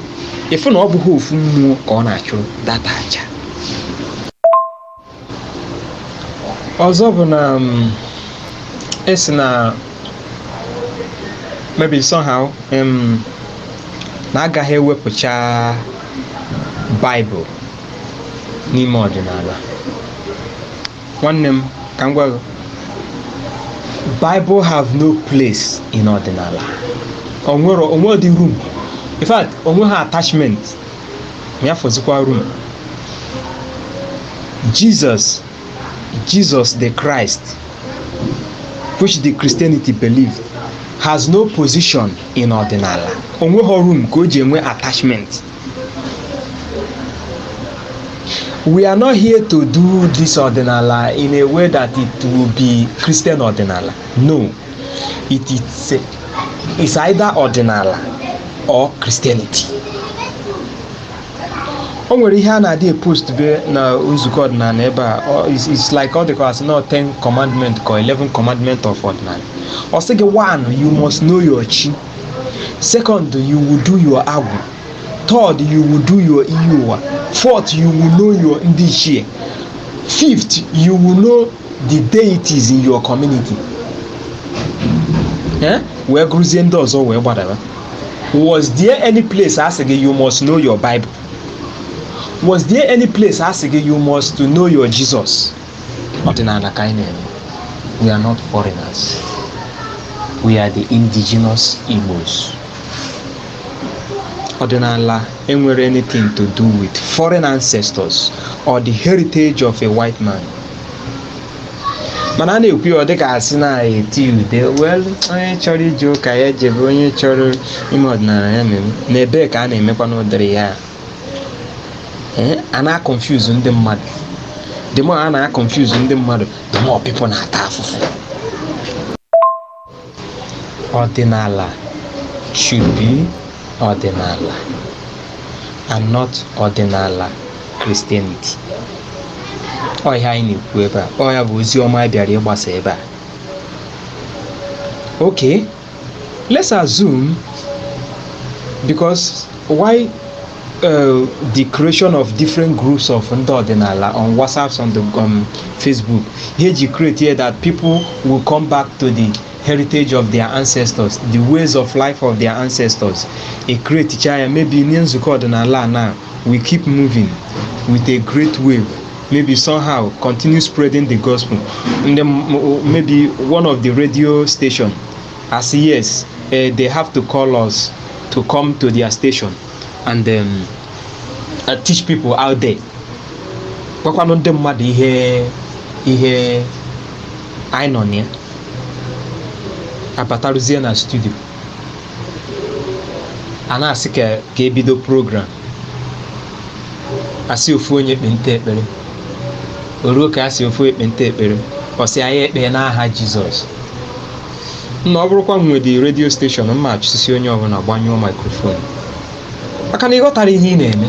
ị fụ na ọ bụghị ofu mmụọ ka ọ na-achụrụ that aja ọzọ bụ na um, esi na maybe somehow um, na agaghị ewepụcha bible n'ime ọdịnala nwanne m ka m gwa gị bible have no place in ọdịnala onwere o nwedị room in fact o nweha attachment ya fọzikwa room Jesus Jesus the Christ which the Christianity believe has no position in ọdịnala onweghị room ka o ji enwe attachment we are not here to do this ọdịnala in a way that it will be Christian ọdịnala no it is a- it's either ọdịnala or Christianity o nwere ihe a na-adị epost be na nzukọ ọdịnala ebe a ọ- it's- it's like ọ dịka asị na 10 commandment ka 11 commandment of ọdịnala ọ sị gị one you must know your chi second you will do your agwụ third you will do your iyi ụwa fourth you will know your ndị ichie fifth you will know the deities in your community eh? wee gụrụzie ndị ọzọ wee gbadara was there any place a sị gị you must know your bible was there any place a sị gị you must to know your jesus ọdịnala ka anyị na-eme we are not foreigners we are the indigenous igbos ọdịnala enwerọ anything to do with foreign ancestors or the heritage of a white man mana a na-ekwu ya ọ dịka asị na-eti ude well onye chọrọ ije ụka ya jebe onye chọrọ ime ọdịnala ya mere na ebee ka a na-emekwanụ ụdịrị ya ee a na-aconfuse ndị mmadụ the more a na-aconfuse ndị mmadụ the more people na-ata afụfụ Ọdịnala should be ọdịnala and not ọdịnala Christianity. Ọ ihe anyị na-ekwu ebe a. Ọ ya bụ ozi ọma anyị bịara ịgbasa ebe a. Okay, let's assume because why Uh, the creation of different groups of ndị ọdịnala on WhatsApp on the um, Facebook ihe ji create here that people will come back to the heritage of their ancestors the ways of life of their ancestors e create ya maybe nye nzukọ ọdịnala na we keep moving with a great wave maybe somehow continue spreading the gospel and then maybe one of the radio station as yes uh, they have to call us to come to their station and um, uh, teach people out there gwakwanụ ndị mmadụ ihe ihe anyị nọ na ya abataruzie na studio a na-asị ka ka ebido program asị ofu onye ekpenta ekpere o ruo ka a sị ofu onye ekpenta ekpere ọ sị anyị ekpee n'aha jesus na ọ bụrụkwa m nwe the redio steshọn mma achụsisi onye ọbụla gbanyụọ maikrofon maka na ị ghọtara ihe ị na-eme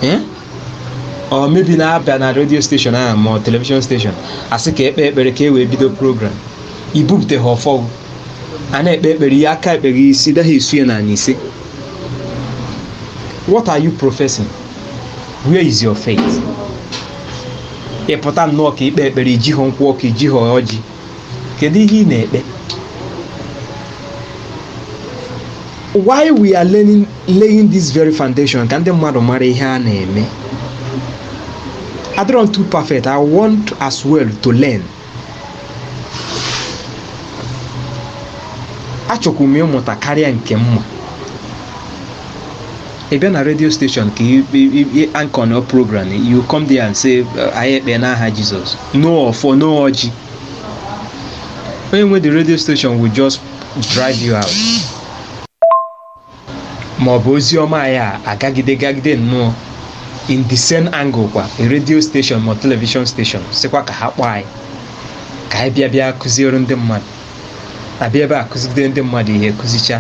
Eh? or maybe na-abịa na redio steshọn ahụ ma ọ telivishọn steshọn asị ka ekpe ekpere ka e wee bido program ibupụta ha ọfọ ahụ a na-ekpe ekpere ihe aka ekpe gị isi daghị esu ya n'ala isi what are you professing where is your faith ịpụta nnọọ ka ikpe ekpere ijighọ nkwụ ọkụ ijighọ ọjị kedu ihe ị na-ekpe why we are learning, laying this very foundation ka ndị mmadụ mara ihe a na-eme adịrọ m too perfect i want as well to learn achọkwu m ịmụta karịa nke m ma ị bịa na redio steshọn ka anchor nnọọ program you come there and say uh, anyị ekpee n'aha jizọs no ọfọ no ọjị onye nwe the radio station will just drive you out ma ọ bụ ozi ọma anyị a agagide gagide nnọọ in the same angle kwa a radio station ma television station sịkwa ka ha kpọọ anyị ka anyị bịa bịa kụziere ndị mmadụ abịa ebe a kụzigide ndị mmadụ ihe kụzicha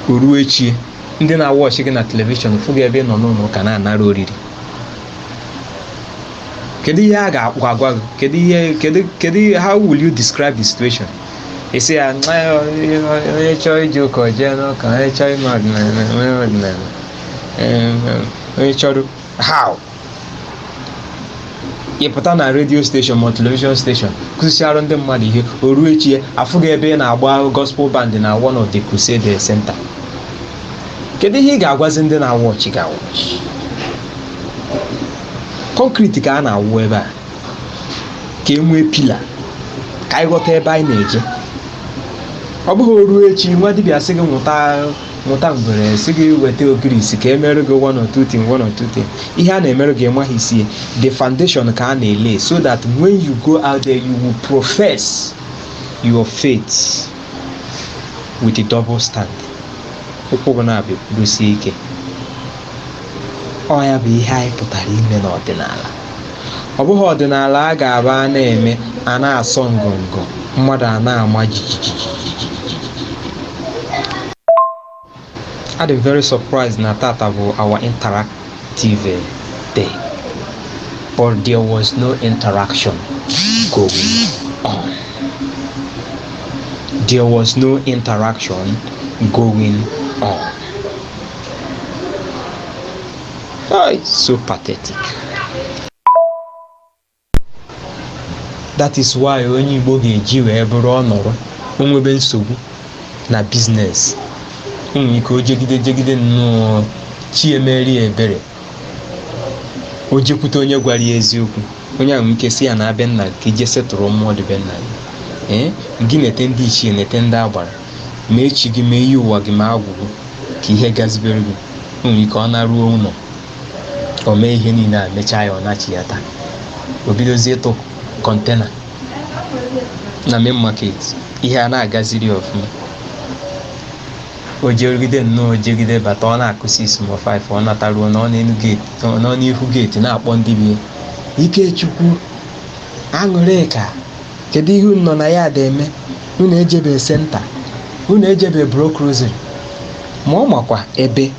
o ruo echi ndị na-awọchị gị na telivishọn fụ gị ebe ị nọ n'ụlọ ụka na-anara oriri kedu ihe a ga-agwa gị kedu ihe kedu kedu how will you describe the situation isi ya ncha ya onye chọọ ije ụka o jee n'ụka onye chọọ ime ọdịnala o mee ọdịnala Em, em, onye chọrọ how ị pụta na redio steshọn ma telivishọn steshọn kụzicharụ ndị mmadụ ihe o ruo echi ya a fụ gị ebe ị na-agba gospel band na one of the crusade center kedu ihe ị ga-agwazi ndị na-awọchi gị awọchi kọnkriti ka a na-awụ ebe a ka e nwee pila ka anyị ghọta ebe anyị na-eje ọ bụghị o ruo echi nwa dibịa sị gị nwụta nwụta ngwere sị gị weta ogirisi ka emerụ gị one or two thing one or two thing ihe a na-emerụ gị ịmaghị isi ya the foundation ka a na-elay so that when you go out there you will profess your faith with a double stand ụkwụ gị naabọ kwudosie ike ọ ya bụ ihe anyị pụtara ime n'ọdịnala ọ bụghị ọdịnala a ga-aba a na-eme a na-asọ ngọngọ mmadụ a na-ama jijiji adị m very surprised na tata bụ our interactive eh, day but there was no interaction going on there was no interaction going on Ay, so pathetic. That is why onye Igbo ga-eji wee bụrụ ọ nọrọ o nwebe nsogbu na business o nwere ike o jegide jegide nnọọ chi emere ya ebere o jekwute onye gwara ya eziokwu onye ahụ nwere ike sị ya naa be nna gị ka i je settle mmụọ dị be nna gị ee gị nete ndị ichie nete ndị agbara mee chi gị mee iyi ụwa gị mee agwụ gị ka ihe gazibere gị o nwere ike ọ naruo ụlọ o mee ihe niile a mechaa ya ọ nachighata o bidozie ịtụ container na Main Market ihe a na-agaziri ya ọfụma o jerugide nnọọ jegide bata ọ na-akụ 6 ma 5 ọ nataruo nọ n'ihu gate na-akpọ ndị be ya, Ikechukwu Aṅụrịka kedu ihe unu nọ na yard eme unu ejebe center unu ejebe block rosary ma ọ makwa ebe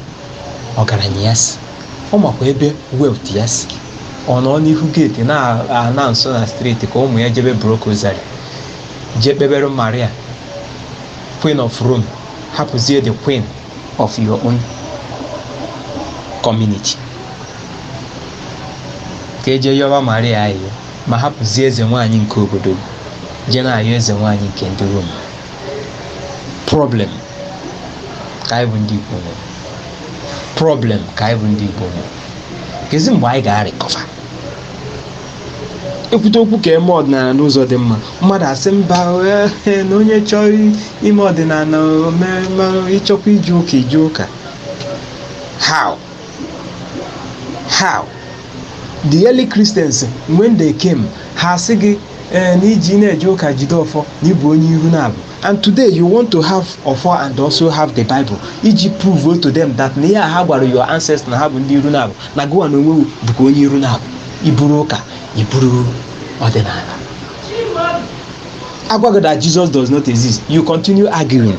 ọgaranya ya si ọ makwa ebe wealth ya si ọ nọ n'ihu gate na-announce na street ka ụmụ ya jebe block rosary jee kpebere Maria Queen of Rome hapụzie the queen of your own community ka e je yọba Maria ayịyọ ma hapụzie eze nwaanyị nke obodo jee na-ayọ eze nwaanyị nke ndị Rome problem ka anyị bụ ndị Igbo nwere problem ka anyị bụ ndị Igbo nwere kezi mgbe anyị ga-recover ekwute okwu ka e mee ọdịnala n'ụzọ dị mma mmadụ asị mba ee na onye chọọ ime ọdịnala o mee ma ị chọkwa ije ụka i je ụka how how the early Christians when they came ha asị gị ee na i ji na-eje ụka jide ọfọ na ị bụ onye iru naabọ and today you want to have ọfọ and also have the Bible iji prove to them that na ihe a ha gwara your ancestors na ha bụ ndị iru naabọ na gụwa n'onwe gụ bụkwa onye iru naabọ i buru ụka i buru ọdịnala a gwa gị that Jesus does not exist you continue arguing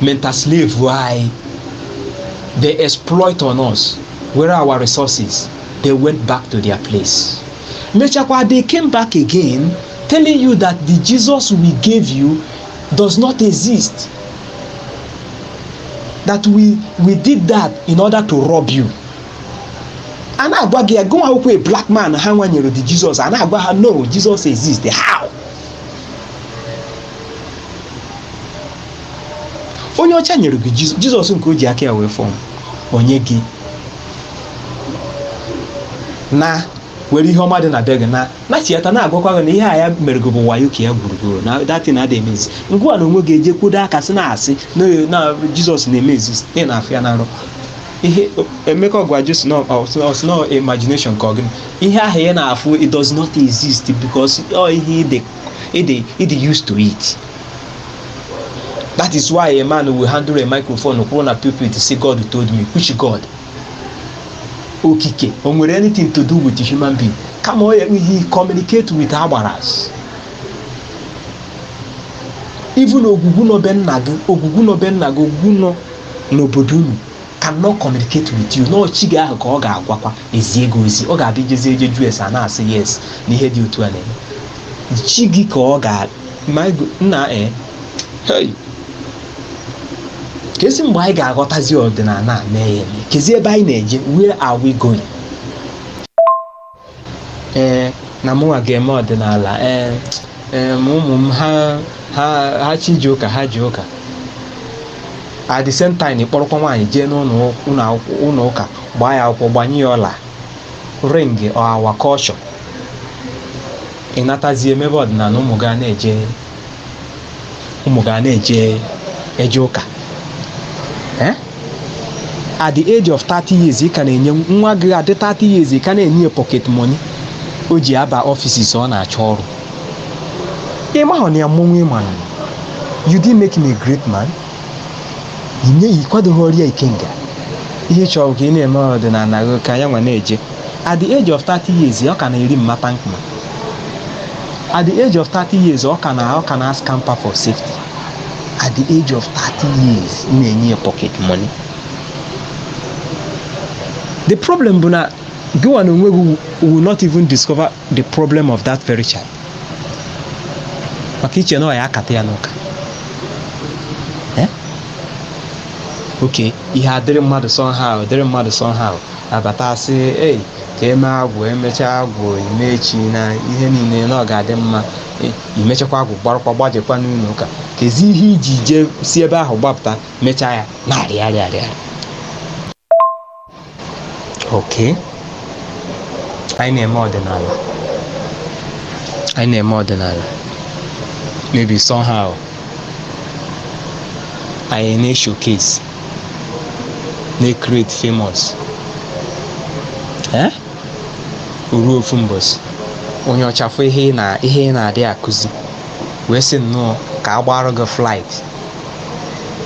mental slave why they exploit on us where are our resources they went back to their place mechakwa they came back again telling you that the jesus we gave you does not exist that we we did that in order to rob you a na-agwa gị ya gụnwa akwụkwọ a black man ha nwanyere the jesus a na-agwa ha no jesus exist how onye ọcha nyere gị Jes- Jesus nke o ji aka ya wee form o nye gị na-ewere ihe ọma dị na be gị na na tieta na-agwakwa gị na ihe a ya mere gị bụ wayo ka ya gburugburu na that thing adị eme exist ngịwa n'onwe gị eje kwudo aka sị na-asị na na Jesus na-eme exist ị na-afụ ya na nrọ ihe emeka ọ bụkwa just an imagination ka ọ gịnị ihe ahụ ya na-afụ it does not exist because ọ ihe ịdị ịdị ịdị used to it that is why a man will handle a microphone kwụrụ na pulpit say God told me which God Okike o nwere anything to do with human being kama ọ ya ihe communicate with agbaras even ogwugwu nọ be nna gị ogwugwu nọ be nna gị ogwugwu nọ n'obodo unu cannot communicate with you na ọ chi gị ahụ ka ọ ga-agwakwa ezie gị ozi ọ ga-abụ i jezie jee jụ ese a na-asị yes na ihe dị otu a na-eme chi gị ka ọ ga my God nna eh hey kezi mgbe anyị ga-aghọtazi ọdịnala a mee ya eme kezi ebe anyị na-eje where are we going ee na mụnwa ga-eme ọdịnala ee ee ma ụmụ m ha ha ha chi je ụka ha je ụka at the same time ị kpọrọkwa nwaanyị jee n'ụlọ ụlọ akwụkwọ- ụlọ ụka gbaa ya akwụkwọ gbanye ya ọla ring our culture ị natazie emebe ọdịnala ụmụ gị a na-eje ụmụ gị a na-eje eje ụka Eh? at the age of 30 years ị ka na-enye nwa gị adị 30 years ị ka na-enye ya pocket money o ji aba offices ọ na-achọ ọrụ ị mahụ na ya mmọnwụ ịmanụ you didn't make him a great man ị nyeghị ị kwadoghịrị ya ikenga ihe ị chọrọ bụ ka ị na-eme ọdịnala gị ka ya nwa na-eje at the age of 30 years ọ ka na-eri mama thank ma at the age of 30 years ọ ka na ọ ka na scamper for safety at the age of 30 years ị na-enye ya pocket money the problem bụ na gịnwa na onwe gị will not even discover the problem of that very child maka i che na ọ ya akata ya n'ụka Eh? okay ihe adịrị mmadụ somehow dịrị mmadụ somehow abata asị ei ka e mee agwụ emechaa agwụ eme eche na ihe niile na ọ ga-adị mma Eh, i mechakwa agwụ gbarakwa gbajekwa n'ụlọ ụka kezi ihe i ji jee si ebe ahụ gbapụta mechaa ya na-arịgharị arịgharị okay anyị na-eme ọdịnala anyị na-eme ọdịnala maybe somehow anyị na-eshowcase na-ecreate famous eh? ruo ofu mbọsị onye ọcha fụ ihe ị na ihe ị na-adị akụzi wee sị nnọọ ka a gbaara gị flight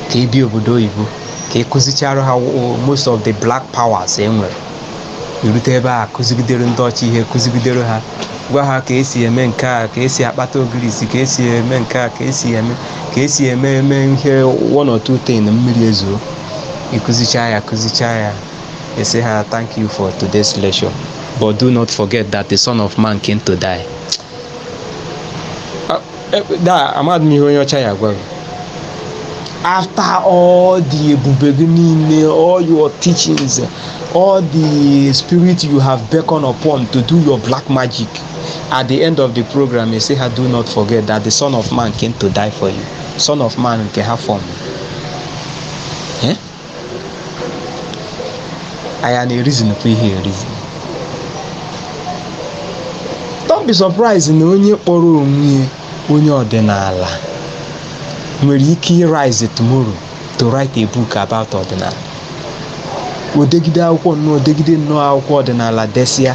ka ị bịa obodo oyibo ka ị kụzichara ha wo- most of the black powers e nwere i rute ebe a kụzigidere ndị ọcha ihe kụzigidere ha gwa ha ka esi eme nke a ka esi akpata ogirisi ka esi eme nke a ka esi eme ka esi eme eme ihe one or two thing mmiri ezoo ị kụzicha ya kụzicha ya ị sị ha thank you for today's lecture but do not forget that the son of man came to die da amadị m ihe onye ọcha ya gwara after all the ebube gị niile all your teachings all the spirit you have beckoned upon to do your black magic at the end of the program you say ha do not forget that the son of man came to die for you son of man nke ha form anyị na-ereasonụkwa ihe ereason don't be surprised na onye kpọrọ onwe ya onye ọdịnala nwere ike ịrise tomorrow to write a book about ọdịnala o degide akwụkwọ nnọọ o degide nnọọ akwụkwọ ọdịnala desịa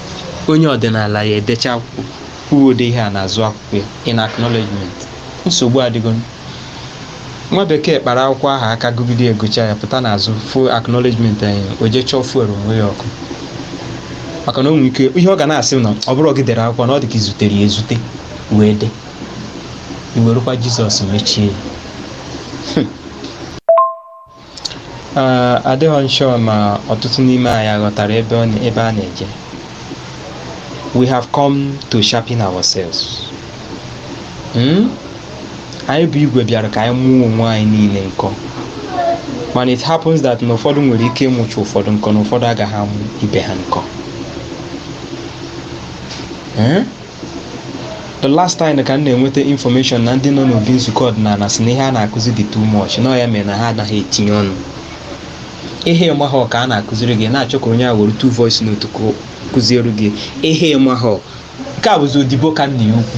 onye ọdịnala ya edecha o wee dee ihe a n'azụ akwụkwọ ya in acknowledgement nsogbu adịgo nwa bekee kpara akwụkwọ ahụ aka gụgide ya gụcha ya pụta n'azụ fụ acknowledgement anyị o jee chọọ fuel onwe ya ọkụ maka na o nwere ike ihe ọ ga na-asị m na ọ bụrụ gị dere akwụkwọ na ọ dị ka i zutere ya ezute wee dee i werekwa jizọs mechie ya Ee, adịghị m sure ma ọtụtụ n'ime anyị aghọtara ebe ọ na- ebe a na-eje we have come to sharpen ourselves Hmm? anyị bụ igwe bịara ka anyị mụọ onwe anyị niile nkọ mana it happens that na ụfọdụ nwere ike ịmụcha ụfọdụ nkọ na ụfọdụ agaghị amụ ibe ha nkọ Hmm? the last time ka m na-enweta information na ndị nọ n'obi nzukọ ọdịnala sị na ihe a na-akụzi dị too much na ya mere na ha anaghị etinye ọnụ ihe ị mahọ ka a na-akụziri gị na-achọ ka onye a were two voice note kụziere gị ihe ị mahọ nke a bụzi odibo ka nna ya ukwu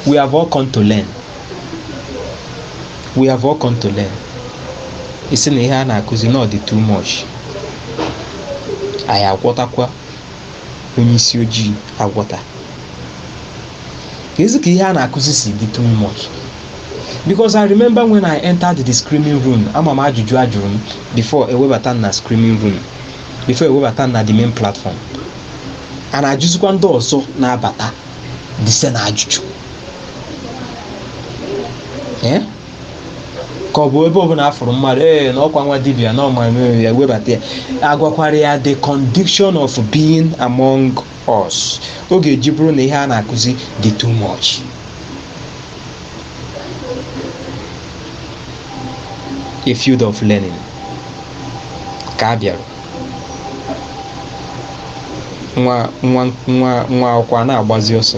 we have all come to learn we have all come to learn ị sị na ihe a na-akụzi na ọ dị too much anyị agwọtakwa onye isi ojii agwọta kezi ka ihe a na-akụzi si dị too much because i remember when i entered the screening room ama m ajụjụ a jụrụ m before e webata m na screening room before e webata m na the main platform a na-ajụzikwa ndị ọzọ na-abata the same ajụjụ Eh? ka ọ bụ ebe ọbụla a fụrụ mmadụ ee na ọkwa nwa dibia na ọma mere ya webata ya a gwakwara ya the condition of being among us ọ ga-eji bụrụ na ihe a na-akụzi dị too much a field of learning ka a bịara nwa nwa nwa nwa akwụkwọ a na-agbazi ọsọ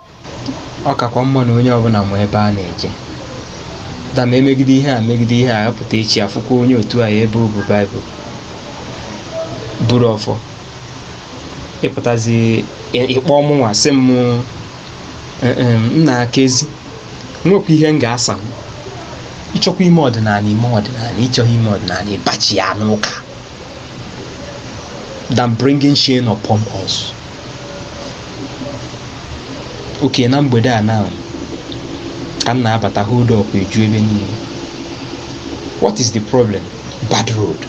ọ kakwa mma na onye ọbụla ma ebe a na-eje da ma e megide ihe a megide ihe a a pụta echi a fụkwa onye otu anyị ebe o bu baịbụl buru ọfọ ị pụtazi ị kpọọ mụnwa sị m nnaa kezi nwekwa ihe m ga-asa m ị chọkwa ime ọdịnala i mee ọdịnala ị chọghị ime ọdịnala ị bachighaa n'ụka than bringing shame upon us oke na mgbede a na ka m na-abata hold up eju ebe niile what is the problem bad road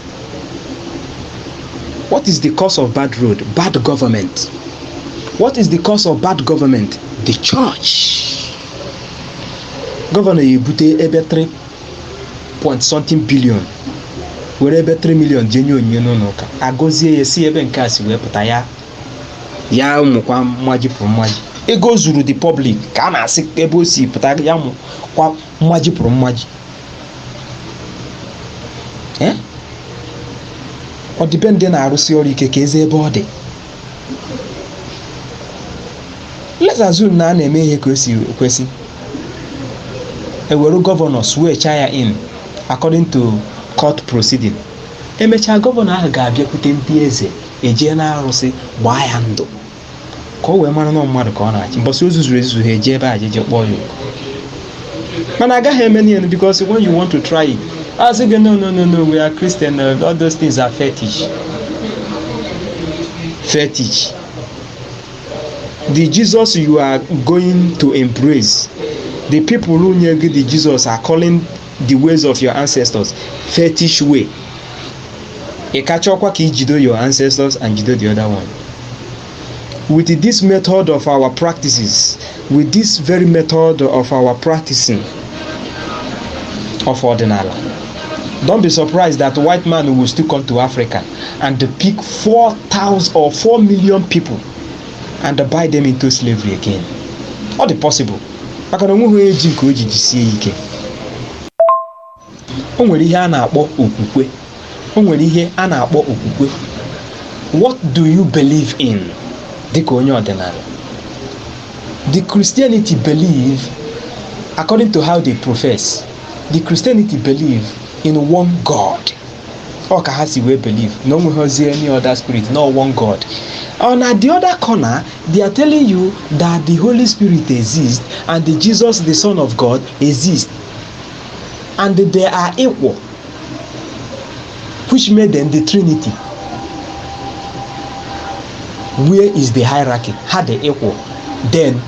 what is the cause of bad road bad government what is the cause of bad government the church gọvanọ ya ebute ebe 3 point something billion were ebe 3 million jee nye onyinye n'ụlọ ụka agọzie ya sị ebe nke a si wee pụta ya mụkwa mmaji pụrụ mmaji ego o zuru the public ka a na-asị ebe o si pụta ya mụkwa mmaji pụrụ mmaji Eh? ọdịbendị na-arụsi ọrụ ike ka eze ebe ọ dị let's assume na a na-eme ihe ka o si kwesị e were gọvanọ swearchaa ya in according to court proceeding emechaa gọvanọ ahụ ga-abịakwute ndị eze e jee n'arụsị gbaa ya ndụ ka o wee mara na ọ mmadụ ka ọ na-achị mbọsị o zuzuru ezuzu ha eji ebe a jeje kpọọ ya oku mana agaghị eme n'ihe because when you want to try it a sị gị no no no no we are Christian uh, all those things are fetish fetish the Jesus you are going to embrace the people who nye gị the Jesus are calling the ways of your ancestors fetish way ị kachọkwa ka i jido your ancestors and jido the other one With this method of our practices, with this very method of our practicing of ọdịnala, don't be surprised that white man will still come to Africa and pick 4,000 or 4 million people and buy them into slavery again. Ọ dị possible maka na o nweghị onye ji nke o ji jisie ya ike o nwere ihe a na-akpọ okwukwe o nwere ihe a na-akpọ okwukwe what do you believe in dịka onye ọdịnala the christianity believe according to how they profess the christianity believe in one god ọ ka ha si wee believe na o nweghịzi any other spirit no one god on the other corner they are telling you that the holy spirit exists and the jesus the son of god exists and they are equal which made them the trinity where is the hierarchy ha dị equal then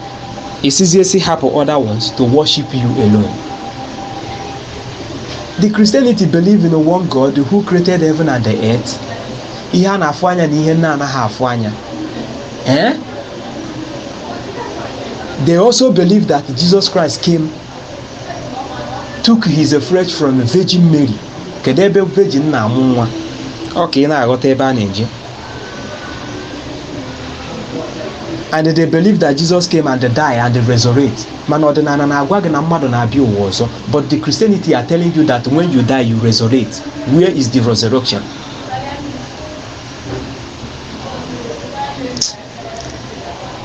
ị sịzie sị hapụ other ones to worship you alone the christianity believe in one god who created heaven and the earth ihe a na-afụ anya na ihe na-anaghị afụ anya eh? they also believe that jesus christ came took his flesh from Virgin Mary kedu ebe virgin na-amụ nwa ọ ka ị na-aghọta ebe a na-eje and they believe that Jesus came and die and resurrect mana ọdịnala na-agwa gị na mmadụ na-abịa ụwa ọzọ but the Christianity are telling you that when you die you resurrect where is the resurrection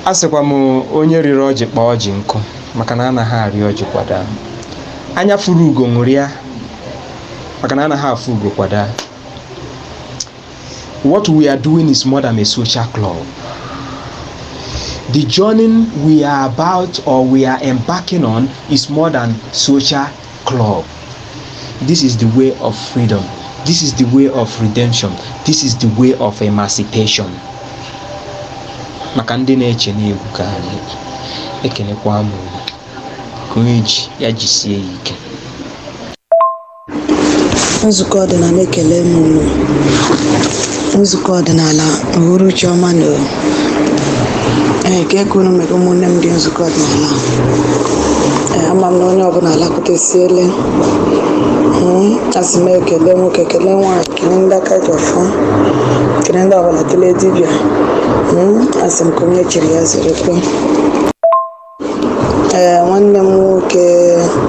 a sịkwa m onye rịrị ọjị kpaa ọjị nkụ maka na anaghị arị ọjị kwa daa anya fụrụ ugo ṅụrịa maka na anaghị afụ ugo kwa daa what we are doing is more than a social club the journey we are about or we are embarking on is more than social club this is the way of freedom this is the way of redemption this is the way of emancipation maka ndị na-eche na egwu ka anyị ekenekwa m ka onye ji ya jisie ya ike nzukọ ọdịnala ekele m unu nzukọ ọdịnala uhuruchi ọma nụ ee kee ka unu mere ụmụnne m ndị nzukọ ọdịnala ee ama m na onye ọbụla alakụtesiele asị m ekele nwoke kele nwaanyị kele ndị aka ji ọfọ kele ndị ọbụla kele dibịa Mm, asị m nke onye chiri ya zerekwe ee nwanne m nwoke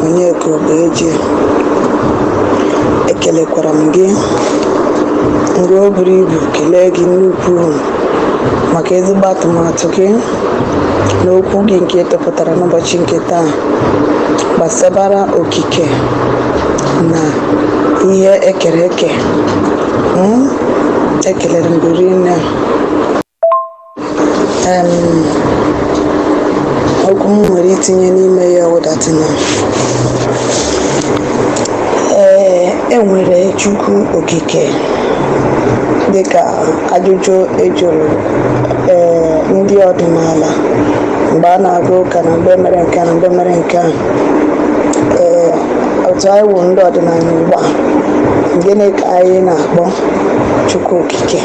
onyeka obeji ekelekwara m gị nke o buru ibu kelee gị nnukwu maka ezigbo atụmatụ gị na okwu gị nke ị tụpụtara n'ụbọchị nke taa gbasabara okike na ihe ekere eke Mm, ekelere m gị rinne okwu m nwere itinye n'ime ya wụ that na ee enwere chukwu okike dịka ajụjụ ejụrụ ee ndị ọdịnala mgbe a na-aga ụka na mgbe e mere nke a na mgbe e mere nke a ee otu anyị wụ ndị ọdịnala ugbu a gịnị ka anyị na-akpọ chukwu okike okike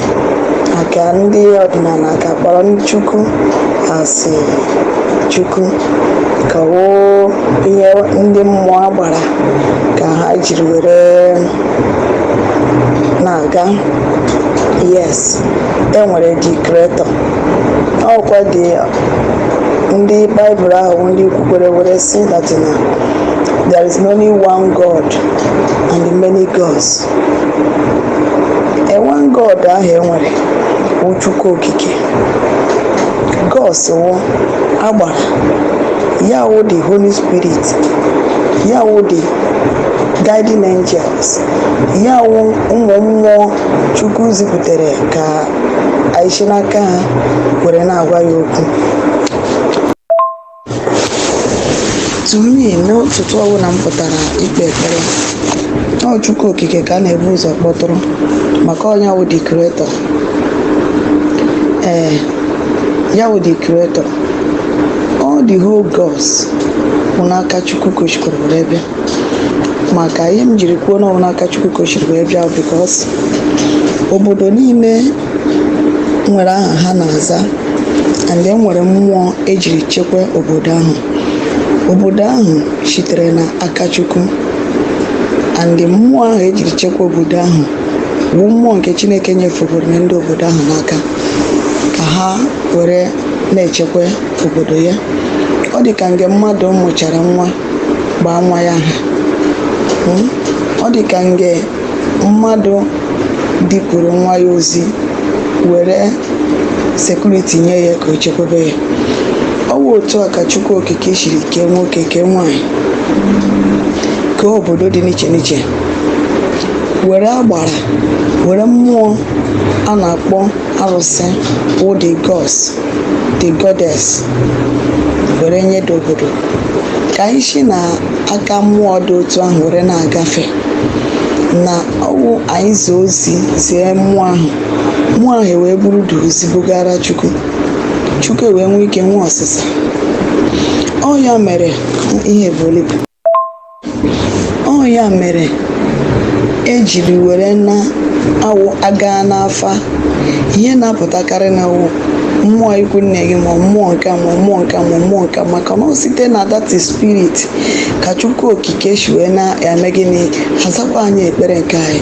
maka ndị ọdịnala ka kpọrọ chukwu asị chukwu ka wụ ihe ndị mmụọ agbara ka ha jiri were na-aga yes enwere the creator ọ wụkwadị ndị baịbụl ahụ wụ ndị kwukwere were sị that na there is only one god and many gods one god ahụ enwere wụ chukwu okike gods wụ agbara ya wụ the holy spirit ya wụ the guiding angels ya wụ ụmụ mmụọ chukwu ziputere ka anyị si n'aka ha were na-agwa ya okwu to me n'ụtụtụ ọbụla m pụtara ikpe ekpere ọ Chukwu okike ka a na-ebu ụzọ kpọtụrụ maka ọ ya wụ the creator ee ya wụ the creator all the whole gods wụ n'aka Chukwu ka o shikwuru were bịa maka ihe m jiri kwuo na ọ wụ n'aka Chukwu ka o shiri wee bịa because obodo niile nwere aha ha na-aza and enwere mmụọ ejiri chekwa obodo ahụ obodo ahụ sitere na aka chukwu and mmụọ ahụ ejiri chekwa obodo ahụ bụ mmụọ nke chineke nyefegoro ndị obodo ahụ n'aka ka ha were na-echekwa obodo ya ọ dị ka nge mmadụ mụchara nwa baa nwa ya aha hmm? ọ dị ka nge mmadụ dupụrụ nwa ya ozi were sekuriti nye ya ka o chekwebe ya ọ wụ otu a ka Chukwu Okike siri kee nwoke kee nwanyị kee obodo dị n'iche n'iche were agbara were mmụọ a na-akpọ arụsị wụ the gods the goddess were nye the obodo ka anyị si na aka mmụọ dị otu ahụ were na-agafe na ọ wụ anyị zie ozi zie mmụọ ahụ mmụọ ahụ wee buru the ozi bugara chukwu chukwu wee nwee ike nwee ọsịsa ọ ya mere ihe bụ ọ ya mere ejiri were na ọ wụ a gaa n'afa ihe na-apụtakarị na wụ mmụọ ikwu nne gị ma mmụọ nke a ma mmụọ nke a ma mmụọ nke a maka na ọ site na that spirit ka chukwu okike si wee na-eme gịnị azakwa anyị ekpere nke anyị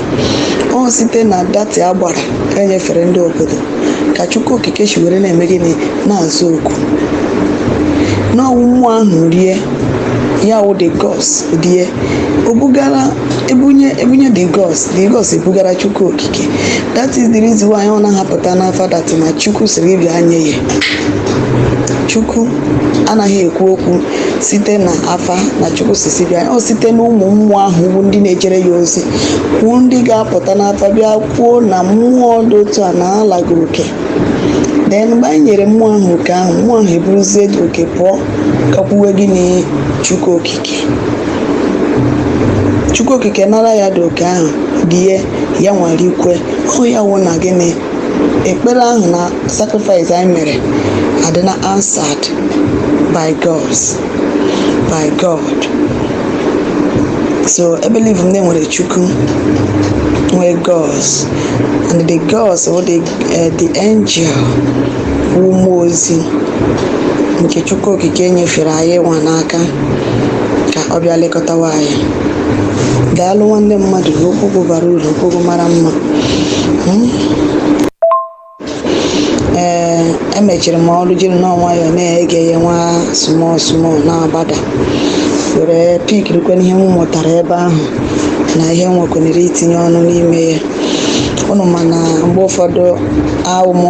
ọ site na that agbara enyefere ndị obodo ka chukwu okike si were na-eme gịnị na-aza oku na ọ wụ mmụọ ahụ rie ya wụ the gods rie o bugara ebunye ebunye the gods the gods ebugara chukwu okike that is the reason why ọ naha apụta n'afa that na chukwu sịrị gị bịa nye ya chukwu anaghị ekwu okwu site na afa na chukwu sị sị bịa ọ site na ụmụ mmụọ ahụ bụ ndị na-ejere ya ozi wụ ndị ga-apụta n'afa bịa kwuo na mmụọ dị otu a na-ana gị oke then mgbe anyị nyere mmụọ ahụ oke ahụ mmụọ ahụ eburuzie the oke pụọ gakwuwe gịnị chukwu okike chukwu okike nara ya the oke ahụ rie ya nwere ikwe ọ wụ ya wụ na gịnị ekpere ahụ na sacrifice anyị mere adịna answered by gods by god so ebelieve m na enwere chukwu nwee gods and the gods or the, uh, the angel bụ mmụọ ozi nke chukwu okike nyefere anyị nwa n'aka ka ọ bịa lekọtawa anyị daalụ nwanne mmadụ okwu bara uru okwu mara mma hmm? ee emechiri m ọnụ jiri nọọ nwayọọ na-ege ya nwa small small na-agbada were pikirikwe n'ihe m mụtara ebe ahụ na ihe m nwekwanere itinye ọnụ n'ime ya ụnụ ma na mgbe ụfọdụ awụ m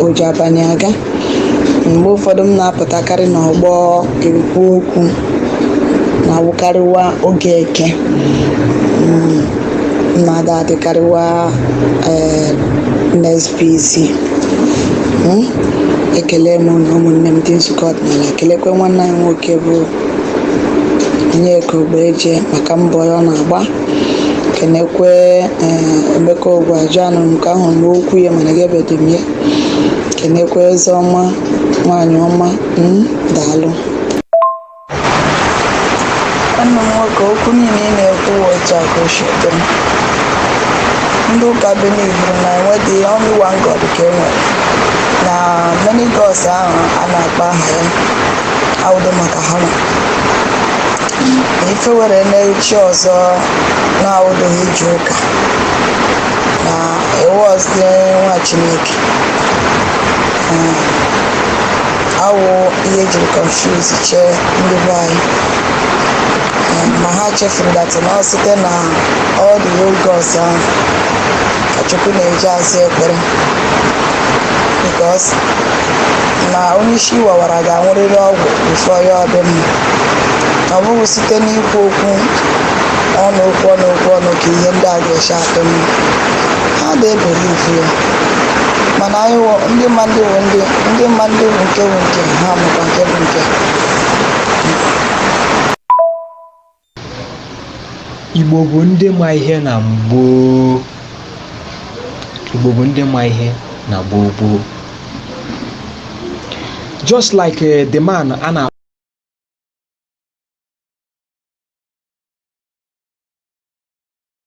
oji abalị aga mgbe ụfọdụ m na-apụtakarị n'ọgbọ ekwu okwu na-awụkarịwa oge eke Mm, mmadụ adịkarịwa eh, NSPC Mm, ekele m na ụmụnne m ndị nzukọ ọdịnala kelekwe nwanne anyị nwoke bụ Onyeka Ogbeje maka mbọ ya ọ na-agba kenekwe eh, Emeka Ogwuajuanụ nke ahụ n'okwu ya mana ga-ebedo m ya kenekwa ezeọma nwaanyị ọma mm, daalụ nwanne m nwoke okwu niile ị na-ekwu wụ otu a ka o si dị ndị ụka believuru na enwedị only one god ka e nwere na many gods ahụ a na-akpọ aha ya awụdo maka ha nwa na ife were na chi ọzọ na-awụdoghị ije ụka na awụzị nwa chineke um, awụ ihe ejiri confuse chee ndị be anyị um, ma ha chefuru that na ọ site na all the old gods ahụ ka chukwu na-eji aza ekpere because na onye isi wawara ga-anwụrịrị ọgwụ before ya adị mma ọ bụghị site n'ikwu okwu ọnụ okwu ọnụ okwu ọnụ ka ihe ndị a ga-esi adị mma ha dị ebelieve ya mana anyị wụ ndị ma ndị wụ ndị ndị ma ndị wụ nke wụ nke ha makwa nke bụ nke Igbo bụ ndị ma ihe na gboo. Igbo bụ ndị ma ihe na gboo gboo. Just like eh, the man a na